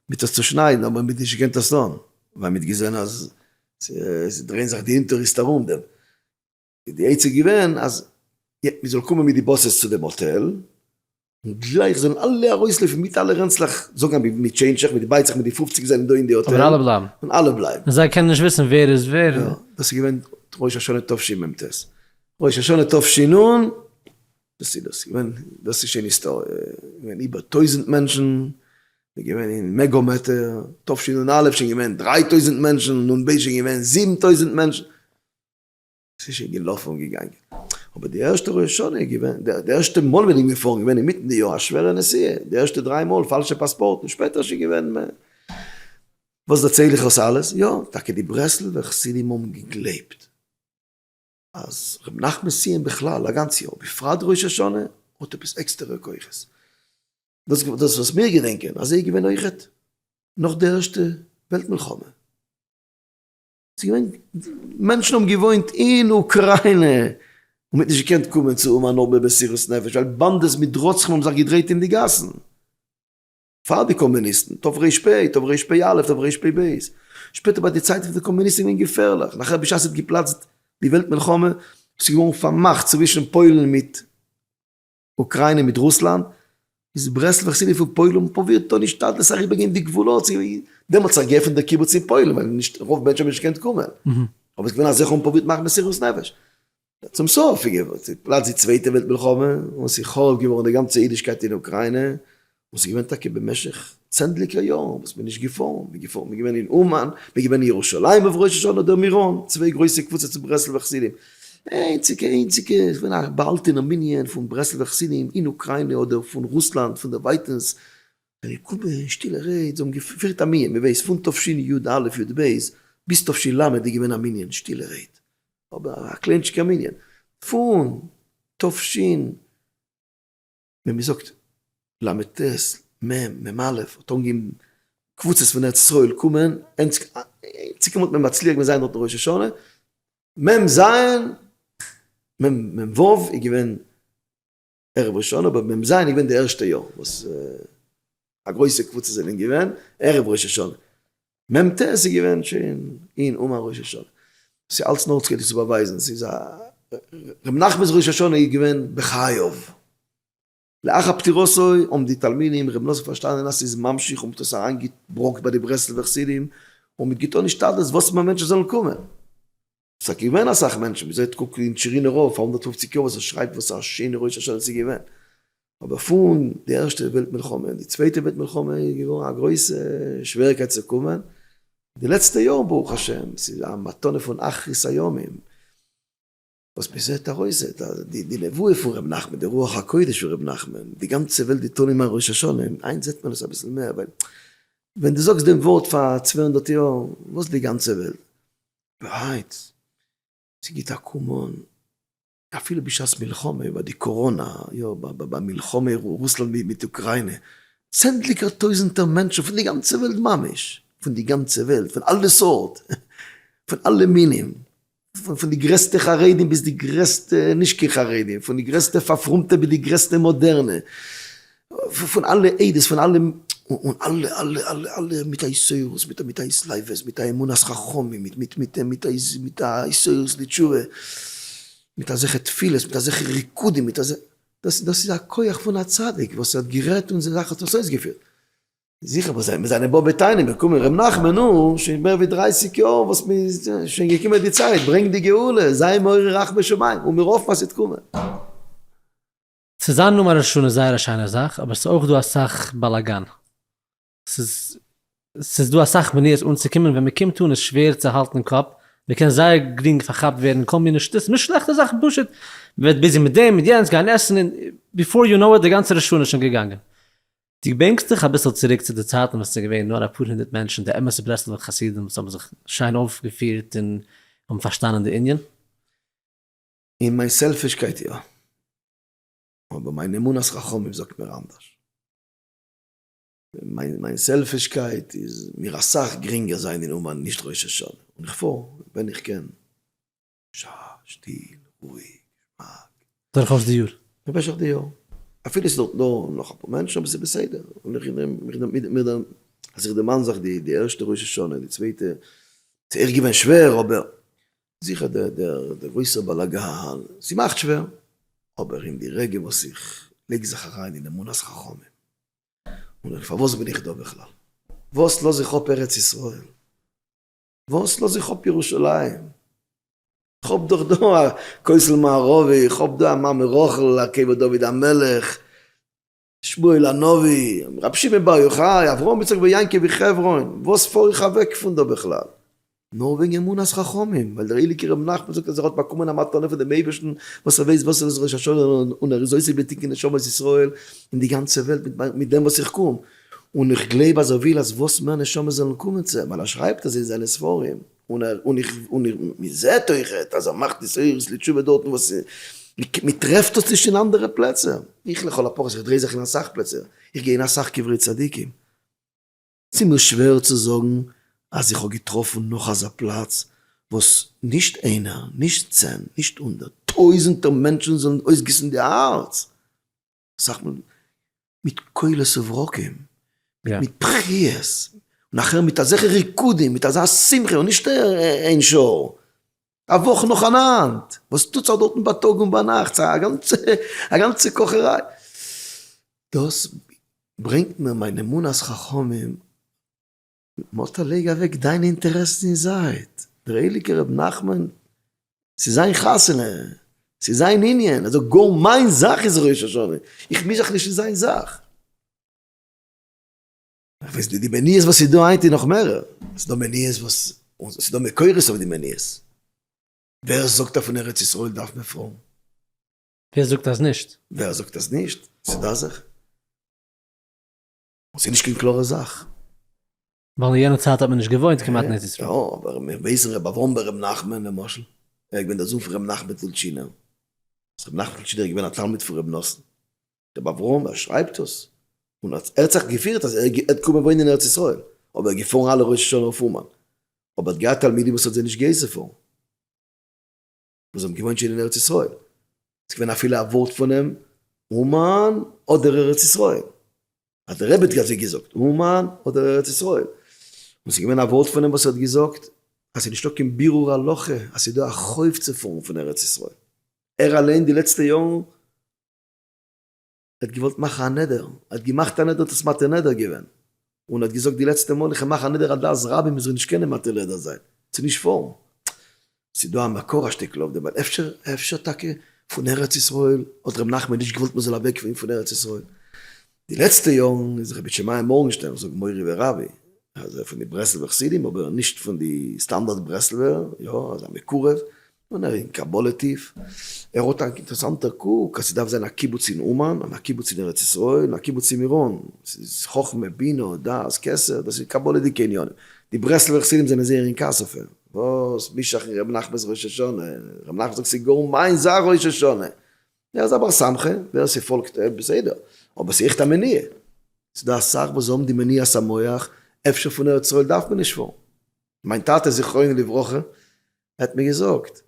מיט עס צושניידן, אבער מ'האט נישט געקענט עס טון, ווייל מ'האט געזען אז ס'איז דרייען זיך די אינטעריסט ארום דעם. איז די עצה געווען אז מ'זאל קומען מיט די באסעס צו דעם האטעל, און גלייך זאלן אלע ארויסלויפן מיט אלע רענצלעך, זאגן אבי מיט טשעינדשעך, מיט די בייצעך, מיט די פופציג זענען דא אין די האטעל, אבער אלע בלייבן, און אלע בלייבן. און זיי קענען נישט וויסן ווער איז ווער. יא, דאס איז געווען ראש השנה תשי מ ט. ראש השנה תשי נ, דאס איז דאס געווען, דאס איז שוין היסטאריע, געווען איבער טויזנט מענטשן, מ'איז געווען אין מעגא מעטה, תשי נ א שוין געווען דריי טויזנט מענטשן, נ ב שוין געווען זיבן טויזנט מענטשן. ס'איז שוין געלאפן און געגאנגען. אבער די ערשטע ראש השנה איז געווען, די ערשטע מאל בין איך געפארן געווען אינמיטן די יאר א שווערע נסיעה, די ערשטע דריי מאל פאלשע פאספארטן, שפעטער שוין געווען מער. וואס דערצייל איך עס אלעס? יא, טאקע די ברסלב'ער חסידים האבן געגלייבט אז ר' נחמן סיעם בכלל, א גאנץ יאר, בפרט ראש השנה, האט עפעס עקסטערע כוחות. דאס וואס מיר געדענקען, אזוי איז געווען אויכעט נאך די ערשטע וועלט מלחמה. ס'איז געווען, מענטשן האבן געוואוינט אין אוקריינע, און מען האט נישט געקענט קומען צו האבן אן ארבעט מסירות נפש, ווייל באנדעס מיט רוצחים האבן זיך געדרייט אין די גאסן. פאר די קאמוניסטן, תרפ ב, תרפ א, תרפ ב. שפעטער ביי די צייט פון די קאמוניסטן איז געווען געפערליך, נאכער בשעת ס'האט געפלאצט די וועלט מלחמה, ס'איז געווארן פארמאכט צווישן פוילן מיט. אוקריינע מיט רוסלאנד, איז ברסלב'ע חסידים פון פוילן האבן פרובירט אן השתדלות אריבער גיין די גבולות, דעמאלטס האט זיך געעפענט דער קיבוץ אין פוילן ווייל נישט רוב מענטשן האבן נישט געקענט קומען, אבער עס איז געווען אזעלכע וואס האבן פרובירט מאכן מסירות נפש, צום סוף איז געפלאצט די צווייטע וועלט מלחמה און עס איז חרוב געווארן די גאנצע אידישקייט אין אוקריינע, און ס'איז געווען טאקע במשך צענדליגער יארן וואס מ'איז נישט געפארן, מ'איז געפארן, מ'איז געווען אין אומאן, מ'איז געווען אין ירושלים אויף ראש השנה אדער מירון, צוויי גרויסע קבוצות פון ברסלב'ע חסידים, איינציגע איינציגע איז געווען א באהאלטענער מנין פון ברסלב'ע חסידים אין אוקריינע אדער פון רוסלאנד פון דערווייטענס, זיי האבן געקומען, שטילע רעד, זיי האבן געפירט א מנין, מ'ווייס פון תשנ י, יא ו, יא ב, ביז תשל ל איז געווען א מנין, שטילע רעד, אבער א קליינטשיגער מנין, פון תשנ. ווען מען זאגט ל' טז מ' מ א' האט אנגעהויבן קבוצות פון ארץ ישראל קומען, אינציקם האט מען מצליח געווען זיין דארטן ראש השנה, מ' ז' מ' מ' ו' איז געווען ערב ראש השנה, אבער מ' ז' איז געווען די ערשטע יאר וואס א גרויסע קבוצה זענען געווען ערב ראש השנה. מ ט עס איז געווען שוין אין אומאן ראש השנה, עס איז אלץ נאר צו צו באווייזן עס איז א רבי נחמנ'ס ראש השנה איז געווען בחייו, לאחר פטירתו האבן די תלמידים רבי נאסף פארשטאנען אז עס איז ממשיך און האט עס אריין געברענגט ביי די ברסלב'ע חסידים און מען האט געטון השתדלות וואס מער מענטשן זאלן קומען. ס'איז טאקע געווען אסאך מענטשן, ווי זעהט קוק אין טשערינא רב פאר הונדערט פֿופֿציק יאר וואס ער שרייבט וואס א שיינע ראש השנה ס'איז געווען. אבער פון די ערשטע וועלט מלחמה און די צווייטע וועלט מלחמה איז געווארן א גרויסע שוועריקייט צו קומען. די לעצטע יארן ברוך השם ס'איז א מתנה פון אחרית הימים וואס מ'זעהט ארויס זעהט די נבואה פון ר' נחמן, די רוח הקודש פון ר' נחמן, די גאנצע וועלט די תנאים ארום ראש השנה, היינט זעהט מען עס אביסל מער ווייל ווען דו זאגסט דעם ווארט פאר צוויי הונדערט יאר וואס די גאנצע וועלט? והייטס, ס'גיט א קאם אן, אפילו בשעת מלחמה איבער די קאראנא, יא ביי מלחמה רוסלאנד מיט אוקריינע, צענדליגער טויזענטער מענטשן פון די גאנצע וועלט ממש, פון די גאנצע וועלט, פון אלע סארט, פון אלע מינים, פון די גרעסטע חרדים ביז די גרעסטע נישט קיין חרדים, פון די גרעסטע פארפרומטע ביז די גרעסטע מאדערנע, פון אלע עדות, פון אלע, און אלע אלע אלע אלע מיט א יסורות, מיט א מיט א התלהבות, מיט א אמונת חכמים, מיט מיט מיט מיט א מיט א יסורות לתשובה, מיט אזעלכע תפילות, מיט אזעלכע ריקודין, מיט אזעלכע, דאס דאס איז א כח פון א צדיק וואס האט גערעדט און זיין זאך האט עס אויסגעפירט. זיכער וואס זענען זיינע באבע טענען מיר קומען ר' נחמן נו, שוין מער ווי דרייסיג יאר וואס מען איז, שוין געקומען די צייט, ברענג די גאולה, זיי מעורר רחמי שמים, און מיר האפן אז ס'וועט קומען. צו זיין נאמען ראש השנה איז זייער א שיינע זאך, אבער ס'איז אויך דא אסאך באלאגאן. ס'איז ס'איז דא אסאך מניעות אנצוקומען, ווען מ'קומט אן איז שווער צו האלטן קאפ, מ'קען זייער גרינג פארכאפט ווערן אין כל מיני שטות, מיט שלעכטע זאכן פשוט, מ'ווערט ביזי מיט דעם מיט יענץ, גיין עסן און ביפאר יו נאו איט די גאנצע ראש השנה איז שוין געגאנגען. דו בענקסט דיך אביסל צוריק צו די צייטן ווען ס'איז געווען נאר אפאר הונדערט מענטשן, די אמת'ע ברסלב'ער חסידים וואס האבן זיך שיין אויפגעפירט און האבן פארשטאנען די ענין? אין מיין סעלפישקייט יא. אבער מיין אמונת חכמים זאגט מיר אנדערש. מיין סעלפישקייט איז מיר אסאך גרינגער זיין אין אומאן נישט ראש השנה. און איך פאר ווען איך קען. שטיל, שטיל, רואיג, געשמאק. דורכאויס די יאר? במשך די יאר. אפילו ס'איז דארט נאר נאך אפאר מענטשן אבער ס'איז בסדר. און איך דערמאן אז איך דערמאן זיך די ערשטע ראש השנה, די צווייטע, ס'איז עכט געווען שווער אבער. זיכער דער גרויסער באלאגאן, ס'מאכט שווער, אבער אין די רגע וואס איך לייג זיך אריין אין אמונת חכמים, און איך פארוואס בין איך דא בכלל? וואס לאז איך אפ ארץ ישראל? וואס לאז איך אפ ירושלים? איך האב דאך דא א כותל מערבי, איך האב דא א מעמד רחל, א קבר דוד המלך, שמואל הנביא, רבי שמעון בר יוחאי, אברהם יצחק בר יעקב מחברון, וואס פאר איך אוועק פון דא בכלל? נאר וועגן אמונת חכמים, ווייל דער הייליגער רבי נחמן זאגט אז ער האט באקומען א מתנה פון דעם אייבערשטן וואס ער ווייסט וואס ער איז ראש השנה און ער איז עוסק בתיקון נשמות ישראל אין די גאנצע וועלט מיט דעם וואס איך קום, און איך גלייב אז ער וויל אז וואס מער נשמות זאלן קומען צו אים, ווייל ער שרייבט עס אין זיינע ספרים. און מען זעט אויך אז ער מאכט התעוררות לתשובה דארטן וואס מען טרעפט דאס נישט אין אנדערע פלעצער. איך לכל הפחות, איך דריי זיך אין אסאך פלעצער, איך גיי אין אסאך קברי צדיקים, ס'איז מיר שווער צו זאגן אז איך האב געטראפן נאך אזא פלאץ וואס נישט איינער, נישט צען, נישט הונדערט, טויזענטער מענטשן זאלן אויסגיסן די הארץ. סאך מאל מיט קולות וברקים, מיט בכיות, נאכער מיט אזעכע ריקודין, מיט אזא שמחה, און נישט איין שעה, א וואך נאכאנאנד, וואס טוט זיך דארטן ביי טאג און ביי נאכט, א גאנצע, א גאנצע קאכעריי, דאס ברענגט מיר מיין אמונת חכמים, מאטל לייג אוועק דיינע אינטערעסן אין זייט, דער הייליגער רבי נחמן ס'איז זיין חתונה, ס'איז זיין ענין, ער זאגט גאר מיין זאך איז ראש השנה, איך מיש זיך נישט אין זיין זאך. די מניעות וואס איז דא היינט איז נאך מערער, ס'איז דא מניעות וואס, ס'איז דא מקורות אויף די מניעות, ווער זאגט אז פון ארץ ישראל דארף מען פרום? ווער זאגט אז נישט? ווער זאגט אז נישט? ס'איז דא אזעלכע? ס'איז נישט קיין קלארע זאך. ווייל אין יענע צייט האט מען נישט געוואוינט כמעט אין ארץ ישראל. יא, אבער מיר ווייסן ר' אברהם בן ר' נחמן למשל, ער איז געווען דער זון פון ר' נחמן טולטשינער, אז ר' נחמן טולטשינער איז געווען א תלמיד פון ר' נתן. ר' אברהם ער שרייבט דאס, און ער האט זיך געפירט אז ער האט געקומען וואוינען אין ארץ ישראל, אבער ער איז געפארן אלע ראש השנה אויף אומאן, אבער ער האט געהאט תלמידים וואס האט זיי נישט גע'אסר'ט פארן. וואס האבן געוואוינט שוין אין ארץ ישראל. ס'איז געווען אפילו א ווארט פונעם אומאן אדער ארץ ישראל. אז דער רבי האט אזוי געזאגט, אומאן אדער ארץ ישראל. און ס'איז געווען א ווארט פונעם וואס האט געזאגט אז ס'איז נישטא קיין בירור הלכה אז ס'איז דא א חוב צו פארן פון ארץ ישראל. ער אליין די לעצטע יארן. ער האט געוואלט מאכן א נדר, ער האט געמאכט א נדר, האט עס מבטל נדר געווען, און האט געזאגט די לעצטע מאל איך מאך א נדר אז דעת רבים מ'זאל נישט קענען מבטל נדר זיין, ס'איז נישט פארן. ס'איז דא א מקור א שטיקל אויף דעם, ווייל אפשר אפשר טאקע פון ארץ ישראל האט ר' נחמן נישט געוואלט מ'זאל אוועק פון פון ארץ ישראל. די לעצטע יארן איז רבי שמעיה מארגנשטערן, כ'זאג מורי ורבי, אזוי פון די ברסלב'ע חסידים, אבער נישט פון די סטאנדארט ברסלב'ער, יא, אזא מקורב, און ער איז אין קבלה טיף, ער האט א אינטערעסאנטער קוק אז ס'דארף זיין א קיבוץ אין אומאן און א קיבוץ אין ארץ ישראל און א קיבוץ אין מירון, ס'איז חכמה, בינה, דעת, כסף, דאס איז קבלה'דיגע עניינים, די ברסלב'ער חסידים זענען זייער אין כעס אויף אים, וואס משאכ אין רבי נחמנ'ס ראש השנה, רבי נחמן זאגט ס'איז גאר מיין זיין ראש השנה, ער איז א בר סמכא, ווער ס'פאלגט אים בסדר, אבער ס'איז עכט א מניע, ס'דא אסאך וואס האבן די מניעת המוח, אפשר פון ארץ ישראל דארף מען נישט פארן, מיין טאטע זכרונו לברכה ער האט מיר געזאגט,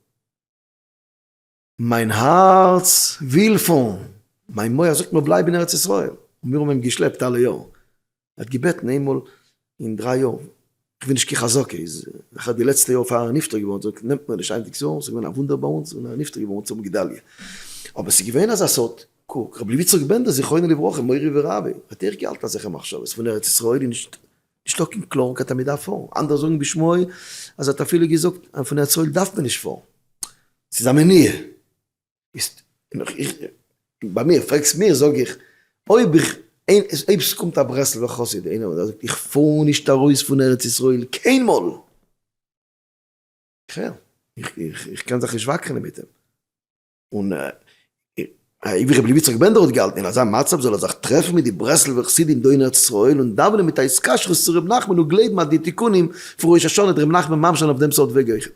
מיין הארץ וויל פארן, מיין מח זאגט מיר בלייב אין ארץ ישראל, און מיר האבן אים געשלעפט אלע יארן, ער האט געבעטן איינמאל אין דריי יאר, איך וויל נישט קיין חזקה, איז אחרי די לעצטע יאר פאר ער איז נפטר געווארן, האט ער געזאגט נעמט מיר נישט היינטיגס יאר, עס איז געווען א וואונדער ביי אונז, און ער איז נפטר געווארן אונז האבן גדליה, אבער עס איז געווען אזא סוד, קוק, רבי לוי יצחק בענדער זכרונו לברכה מורי ורבי, האט אויך געהאלטן אזעלכע מחשבות פון ארץ ישראל איז נישט. נישט דא קיין קלארן קייט אז מען דארף פארן, אנדערע זאגן בשמי אז ער האט אפילו געזאגט אז פון הערצאל דארף מען נישט פארן, ס'איז א מניעה, איז איך ביי מיר, פרעגסט מיר זאג איך אויב איך אויב ס'קומט א ברסלב'ער חסיד איינער וואס זאגט איך פאר נישט ארויס פון ארץ ישראל קיינמאל, איך הער, איך קען זיך נישט וואקרענען מיט אים. און האיבער רבי לוי יצחק בענדער האט געהאלטן אין אזא מצב זאל ער זיך טרעפן מיט די ברסלב'ע חסידים דא אין ארץ ישראל און דאווענען מיט א התקשרות צו רבי נחמן און גלייבן אז די תיקונים פון ראש השנה האט רבי נחמן ממש זיין אויף דעם סארט וועג אויכעט.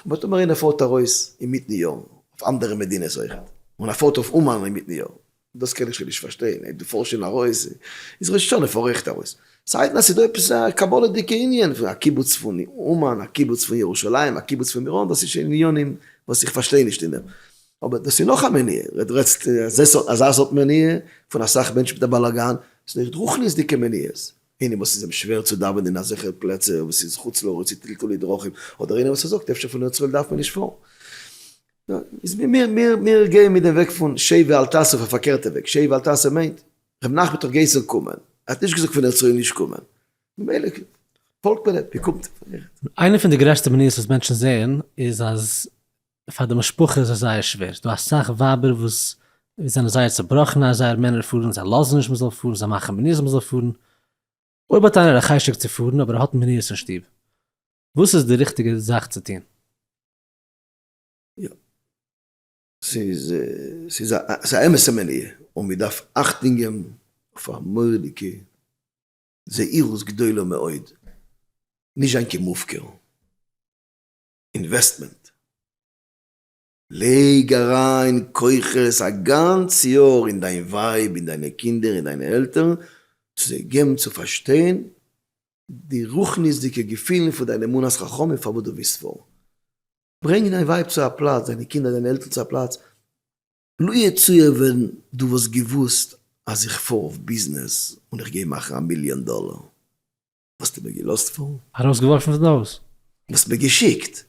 וואס טאמער איינער פארט ארויס אינמיטן יאר אויף אנדערע מדינות אויכעט און ער פארט אויף אומאן אינמיטן יאר? דאס קען איך שוין נישט פארשטיין, אויב דו פארסט שוין ארויס איז ראש השנה פארעכט ארויס. ס'הייסט אז ס'איז דא עפעס א קבלה'דיגע ענין פון א קיבוץ פון אומאן, א קיבוץ פון ירושלים, א קיבוץ פון מירון, דאס איז שוין עניינים וואס איך פארשטיי נישט אינעם, אבער דאס איז נאך א מניעה, דו רעדסט אזא סארט מניעה פון אסאך מענטשן מיט א באלאגאן, ס'איז דאך רוחניות'דיגע מניעות, ענין וואס איז אים שווער צו דאווענען אין אזעלכע פלעצער וואס איז חוץ לארץ צו טלטולי דרכים, אדער ענין וואס ער זאגט אפשר פון ארץ ישראל דארף מען נישט פארן. מיר גייען מיט דעם וועג פון שב ואל תעשה אויף א פארקערטע וועג, שב ואל תעשה מיינט, ר' נחמן האט דאך געהייסען קומען, ער האט נישט געזאגט פון ארץ ישראל נישט קומען, ממילא פאלגט מען אים, מ'קומט. איינע פון די גרעסטע מניעות וואס מענטשן זעען איז אז פאר די משפחה איז עס זייער שווער, ס'דא אסאך ווייבער וואס זענען זייער צעבראכן אז זייער מענער פארן, זיי לאזן נישט מ'זאל פארן, זיי מאכן מניעות מ'זאל פארן, אויב האט איינער א חשק צו פארן אבער ער האט מניעות אין שטוב, וואס איז די ריכטיגע זאך צו טון? יא. ס'איז, ס'איז א, ס'איז א אמת'ע מניעה, און מ'דארף אכטונג געבן אויף א מורא'דיגע זהירות גדולה מאוד, נישט זיין כמופקר. אינוועסטמענט, לייג אריין כוחות א גאנץ יאר אין דיין ווייב, אין דיינע קינדער, אין דיינע עלטערן, צו זיי געבן צו פארשטיין די רוחניות'דיגע געפילן פון דיין אמונת חכמים פארוואס דו וויסט וואו ברענגען דיין ווייב צו א פלאץ, דיינע קינדער, דיינע עלטערן צו א פלאץ. לו יצוייר ווען דו וואלסט געוואוסט אז איך פאר אויף ביזנעס און איך גיי מאכן א מיליאן דאלער, וואלסטו מיר געלאזט פארן? ארויסגעווארפן פון די הויז? וואלסט מיר געשיקט?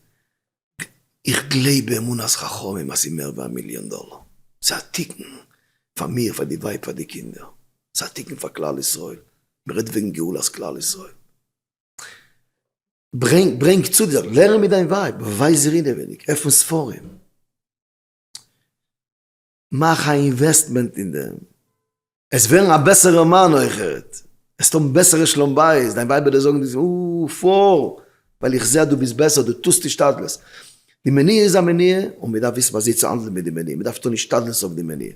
איך גלייב באמונת חכמים אז ס'איז מער ווי א מיליאן דאלער, ס'איז א תיקון פאר מיר, פאר די ווייב, פאר די קינדער, ס'איז א תיקון פאר כלל ישראל, מ'רעדט וועגן גאולת כלל ישראל. ברענג, ברענג צו די זאכן, לערן מיט דיין ווייב, ווייז איר אינעווייניג, עפן ספרים. מאך א אינוועסטמענט אין דעם, עסט ווערן א בעסערע מאן אויך, עסט האבן בעסערע שלום בית, דיין ווייב וועט דיר זאגן דו פאר, ווייל איך זע אז דו ביסט בעסער, דו טוסט השתדלות. די מניעה איז א מניעה, און מען דארף וויסן וויאזוי צו האנדלען מיט די מניעה, מען דארף טון השתדלות אויף די מניעה.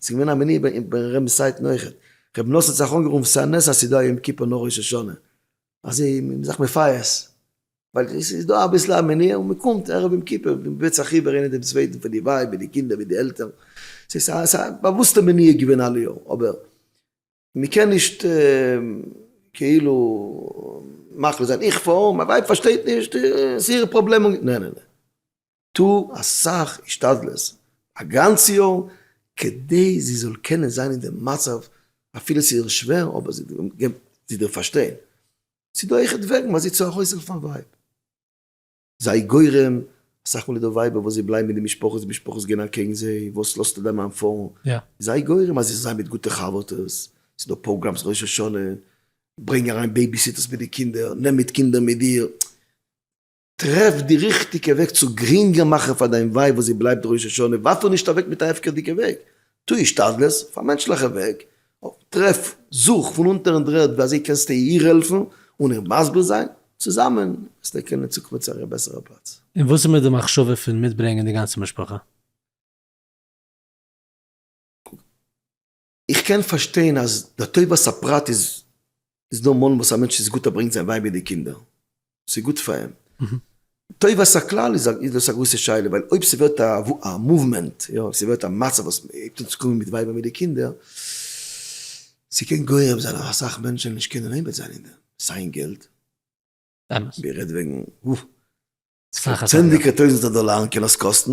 ס'איז געווען א מניעה ביי ר' מסעית'ן אויכעט, ר' נאסער האט זיך אנגערופן ס'איז א נס אז ס'איז דא א יום כיפור נאך ראש השנה, אז זיי האבן זיך מפייס, ווייל עס איז דא אביסל א מניעה און מען קומט ערב יום כיפור, מען בעט זיך איבער איינער דעם צווייטן פאר די ווייב מיט די קינדער מיט די עלטערן, ס'איז א באוואוסטע מניעה געווען אלע יארן, אבער מען קען נישט כאילו מחליט זיין, איך פאר, מיין ווייב פארשטייט נישט, ס'איז איר פראבלעם, נע נע נע. טו אסאך השתדלות א גאנץ יאר כדי זי זאל קענען זיין אין די מצב אפילו ס'איז איר שווער אבער זי געבט זי דיר פארשטיין. ס'איז דא אויכעט וועגן וואס זי צו ארויסהעלפן א ווייב. זיי גורם, אסאך מאל איז דא ווייבער וואס זיי בלייבן אין די משפחות די משפחות גייען אקעגן זיי, וואס לאזטו דיין מאן פארן? זיי גורם אז זי זאל זיין מיט גוטע חבר'טעס, ס'איז דא פראגראמס ראש השנה, ברענג אריין בעיביסיטערס מיט די קינדער, נעם מיט קינדער מיט דיר. טרעף די ריכטיגע וועג צו גרינגער מאכן פאר דיין ווייב וואס זי בלייבט ראש השנה, ווארף איר נישט אוועק מיט א הפקר'דיגע וועג, טו השתדלות, אויף א מענטשליכע וועג, טרעף, זוך פון אונטערן דרערד ווי אזוי קענסטו איר העלפן און איר מסביר זיין, צוזאמען וועסט איר קענען צוקומען צו א בעסערע פלאץ. און וואס איז מיט די מחשבה פון מיטברענגען די גאנצע משפחה? איך קען פארשטיין אז לטובת הפרט איז דא מאל וואס א מענטש איז גוט ער ברענגט זיין ווייב מיט די קינדער, ס'איז גוט פאר אים. טובת הכלל איז דאס א גרויסע שאלה, ווייל אויב ס'ווערט א מאוומענט, יא, אויב ס'ווערט א מצב וואס מ'הייבט אן צו קומען מיט ווייבער מיט די קינדער, ס'קען גורם זיין אז אסאך מענטשען נישט קענען עומד זיין אין דעם, סיי געלט, מ'רעדט וועגן צענדליגער טויזענטער דאלארן קען עס קאסטן,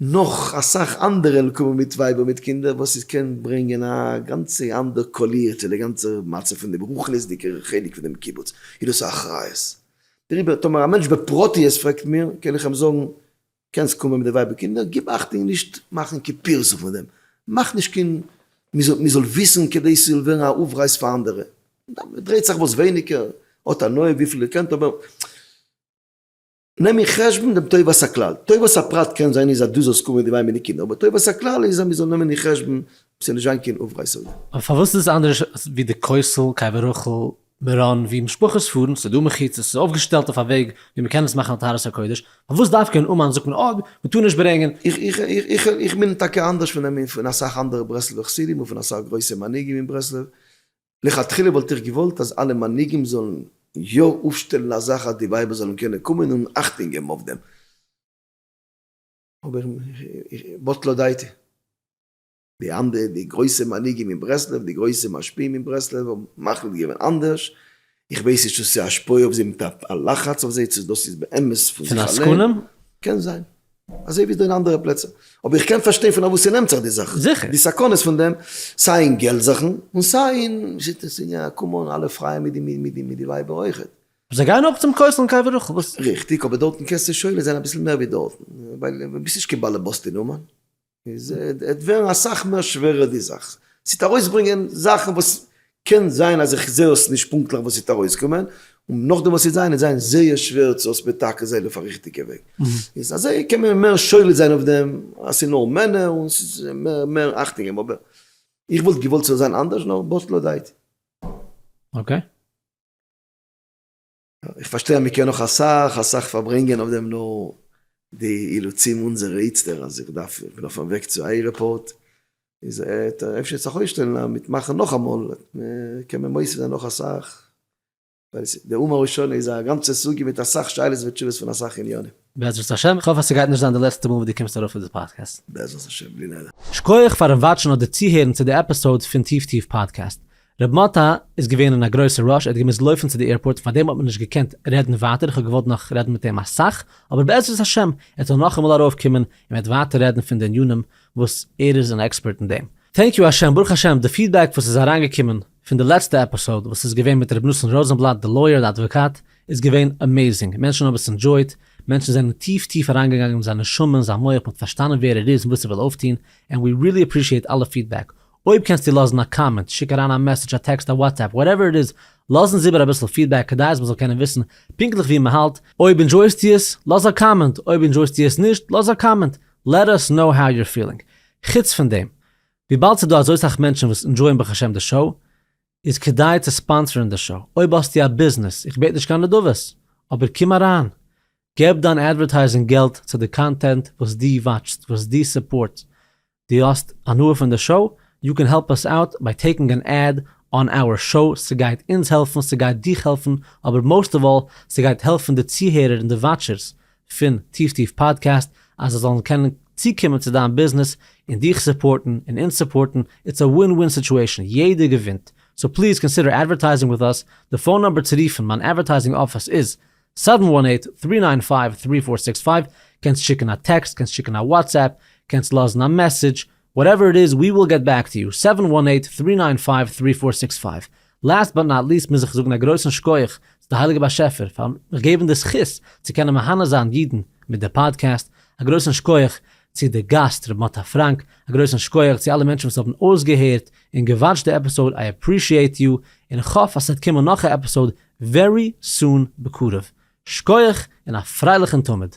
נאך אסאך אנדערע נקמה מיט ווייבער מיט קינדער וואס איז קען ברענגען א גאנצע אנדער קאליר צו די גאנצע מצב פון דעם רוחניות'דיגע חלק פון דעם קיבוץ איז דאס א אחריות דעריבער טאמער א מענטש בפרטיות פרעגט מיר קען איך אים זאגן קענסט קומען מיט די ווייב און קינדער גיב אכטונג נישט מאכן קיין פירסה פון דעם מאך נישט קיין מען זאל וויסן כדי ס'זאל ווערן א אויפרייס פאר אנדערע דרייט זיך וואס ווייניגער האט הנאה וויפיל איר קענט אבער. נעם אין חשבון דעם טובת הכלל, טובת הפרט קען זיין איז אז דו זאלסט קומען אינדערווייל מיט די קינדער, אבער טובת הכלל איז אז מ'זאל נעמען אין חשבון ס'זאל נישט זיין קיין אויפרייסונגען. אבער פארוואס איז עס אנדערש ווי די קויסל, קבר רחל, מירון ווי משפחות פארן, ס'איז דא מחיצות, ס'איז אויפגעשטעלט אויף א וועג ווי מ'קען עס מאכן א טהרת הקודש, פארוואס דווקא אין אומאן זאגט מען אויב מ'טאר נישט ברענגען. איך מיין טאקע אנדערש פון אים און פון אסאך אנדערע ברסלב'ע חסידים און פון אסאך גרויסע מנהיגים אין ברסלב, לכתחילה וואלט איך געוואלט אז אלע מנהיגים זאלן יא אויפשטעלן א זאך אז די ווייבער זאלן קענען קומען און אכטונג געבן אויף דעם, אבער בטלה דעתי, די אנדערע די גרויסע מנהיגים אין ברסלב, די גרויסע משפיעים אין ברסלב האבן מחליט געווען אנדערש, איך ווייס נישט צו ס'איז א השפעה אויף זיי מיט א לחץ אויף זיי צו דאס איז באמת פון זיך אליין, קען זיין. אזוי ווי אין אנדערע פלעצער. אבער איך קען פארשטיין פון וואו ס'נעמט זיך די זאך. זיכער. די סכנות פון דעם, סיי אין געלט זאכן, און סיי אין שיטת סיני, קאם אן, אלע פרייען מיט די מיט די ווייבער אויכעט. זיי גייען אויך צום כותל און קבר רחל, וואס? ריכטיג, אבער דארטן קענסטו שולט זיין אביסל מער ווי דארטן, ווייל ביסט נישט קיין באלעבאס די נאמען. איז עט ווערן אסאך מער שווערער די זאך. ס'עט ארויסברענגען זאכן וואס קען זיין אז איך זעה עס נישט פונקטליך וואס ס'עט ארויסקומען, און נאכדעם וואס ס'עט זיין עט זיין זייער שווער צו עס מתקן זיין אויף א ריכטיגע וועג. איז אזוי קען מען מער שולט זיין אויף דעם אז ס'איז נאר מענער און ס'איז מער מער אכטונג געבן. אבער איך וואלט געוואלט ס'זאל זיין אנדערש נאר באס לא דאיתי. אקעי. איך פארשטיי אז מ'קען נאך אסאך אסאך פארברענגען אויף דעם נאר די אילוצים אונזערע איצטער אז איך דארף איך בין אויפן וועג צו עירעפארט איז אפשר צו זיך אויסשטעלן אז מיט מאכן נאכאמאל קען מען מוסיף זיין נאך אסאך ווייל די אומה הראשונה איז א גאנצע סוגיא מיט אסאך שאלות ותשובות פון אסאך עניינים. בעזרת השם, איך האף אז ס'גייט נישט זיין די לעצטע מאל וואס דו קומסט ארויף אויף די פאדקעסט. בעזרת השם, בלי נדר. שקויעך פארן וואטשן אדער צוהערן צו די עפיסאוד פון טיף טיף פאדקעסט. ר' מאטא איז געווען אין א גרויסע ראש, ער האט געמוזט לויפן צו די עירפארט, פארדעם האט מען נישט געקענט רעדן ווייטער, איך האב געוואלט נאך רעדן מיט אים אסאך, אבער בעזרת השם ער זאל נאכאמאל ארויפקומען און מ'וועט ווייטער רעדן פון די ענינים וואס ער איז אן עקספערט אין דעם. טענק יו השם, ברוך השם, די פידבעק וואס איז אריינגעקומען פון די לעצטע עפיסאוד וואס איז געווען מיט ר' נתן ראזענבלאט די לויער די אדוואקאט, איז געווען עמעזינג, מענטשן האבן עס ענדזשויט, מענטשן זענען טיף טיף אריינגעגאנגען אין זיין נשמה און זיין מח, מ'האט פארשטאנען ווער ער איז און וואס ער וויל אויפטון, ענד ווי רילי עפרישיעט אלע פידבעק, אויב קענסטו לאזן א קאמענט, שיק אריין א מעסעדזש, א טעקסט, א וואטסעפפ, וואטעווער איט איז, לאז אונז איבער אביסל פידבעק כדי אז מען זאל קענען וויסן פונקטליך ווי מען האלט, אויב אינדזשויסטו עס, לאז א קאמענט, אויב אינדזשויסטו עס נישט, לאז א קאמענט, לעט אס קנאו האו יור פילינג. חוץ פון דעם, וויבאלד ס'דא אזוי סאך מענטשן וואס אינדזשויען ברוך השם די שאו, איז כדאי צו ספאנסערן די שאו, אויב האסטו א ביזנעס, איך בעט נישט קיין נדבות, אבער קום אריין, געב דיין אדווערטייזינג געלט צו די קאנטענט וואס דו וואטשסט, וואס דו סופארטסט, דו האסט הנאה פון די שאו? יו קען העלפ אס אוט ביי טעיקינג אן עד אן אווער שאו, ס'גייט אונז העלפן, ס'גייט דיך העלפן, אבער מאוסט אוו אלל ס'גייט העלפן די צוהערער און די וואטשערס פון טיף טיף פאדקעסט אז זיי זאלן קענען צוקומען צו דיין ביזנעס און דיך סופארטן און אונז סופארטן, איטס א ווין ווין סיטועשאן, יעדער געווינט, סאו פליז קאנסידער אדווערטייזינג וויט אס, די פאון נומבער צו רופן מיין אדווערטייזינג אפיס איז, סעווען וואן עיט טרי ניין פייוו טרי פאר סיקס פייוו, קענסט שיקן א טעקסט, קענסט שיקן א וואטסעפפ, קענסט לאזן א מעסעדזש, וואטעווער איט איז, ווי וויל געט בעק טו יו, סעווען וואן עיט טרי ניין פייוו טרי פאר סיקס פייוו. לאסט באט נאט ליסט מוז איך זאגן א גרויסן שקויעך צו די הייליגע באשעפער פארן מיך געבן די זכות צו קענען מהנה זיין אידן מיט די פאדקעסט, א גרויסן שקויעך צו די גאסט ר' מאטא פראנק, א גרויסן שקויעך צו אלע מענטשן וואס האבן אויסגעהערט און געוואטשט די עפיסאוד, איי עפרישיעט יו, און כ'האף אז ס'וועט קומען נאך א עפיסאוד ווערי סון בקרוב, שקויעך און א פרייליכן תמיד.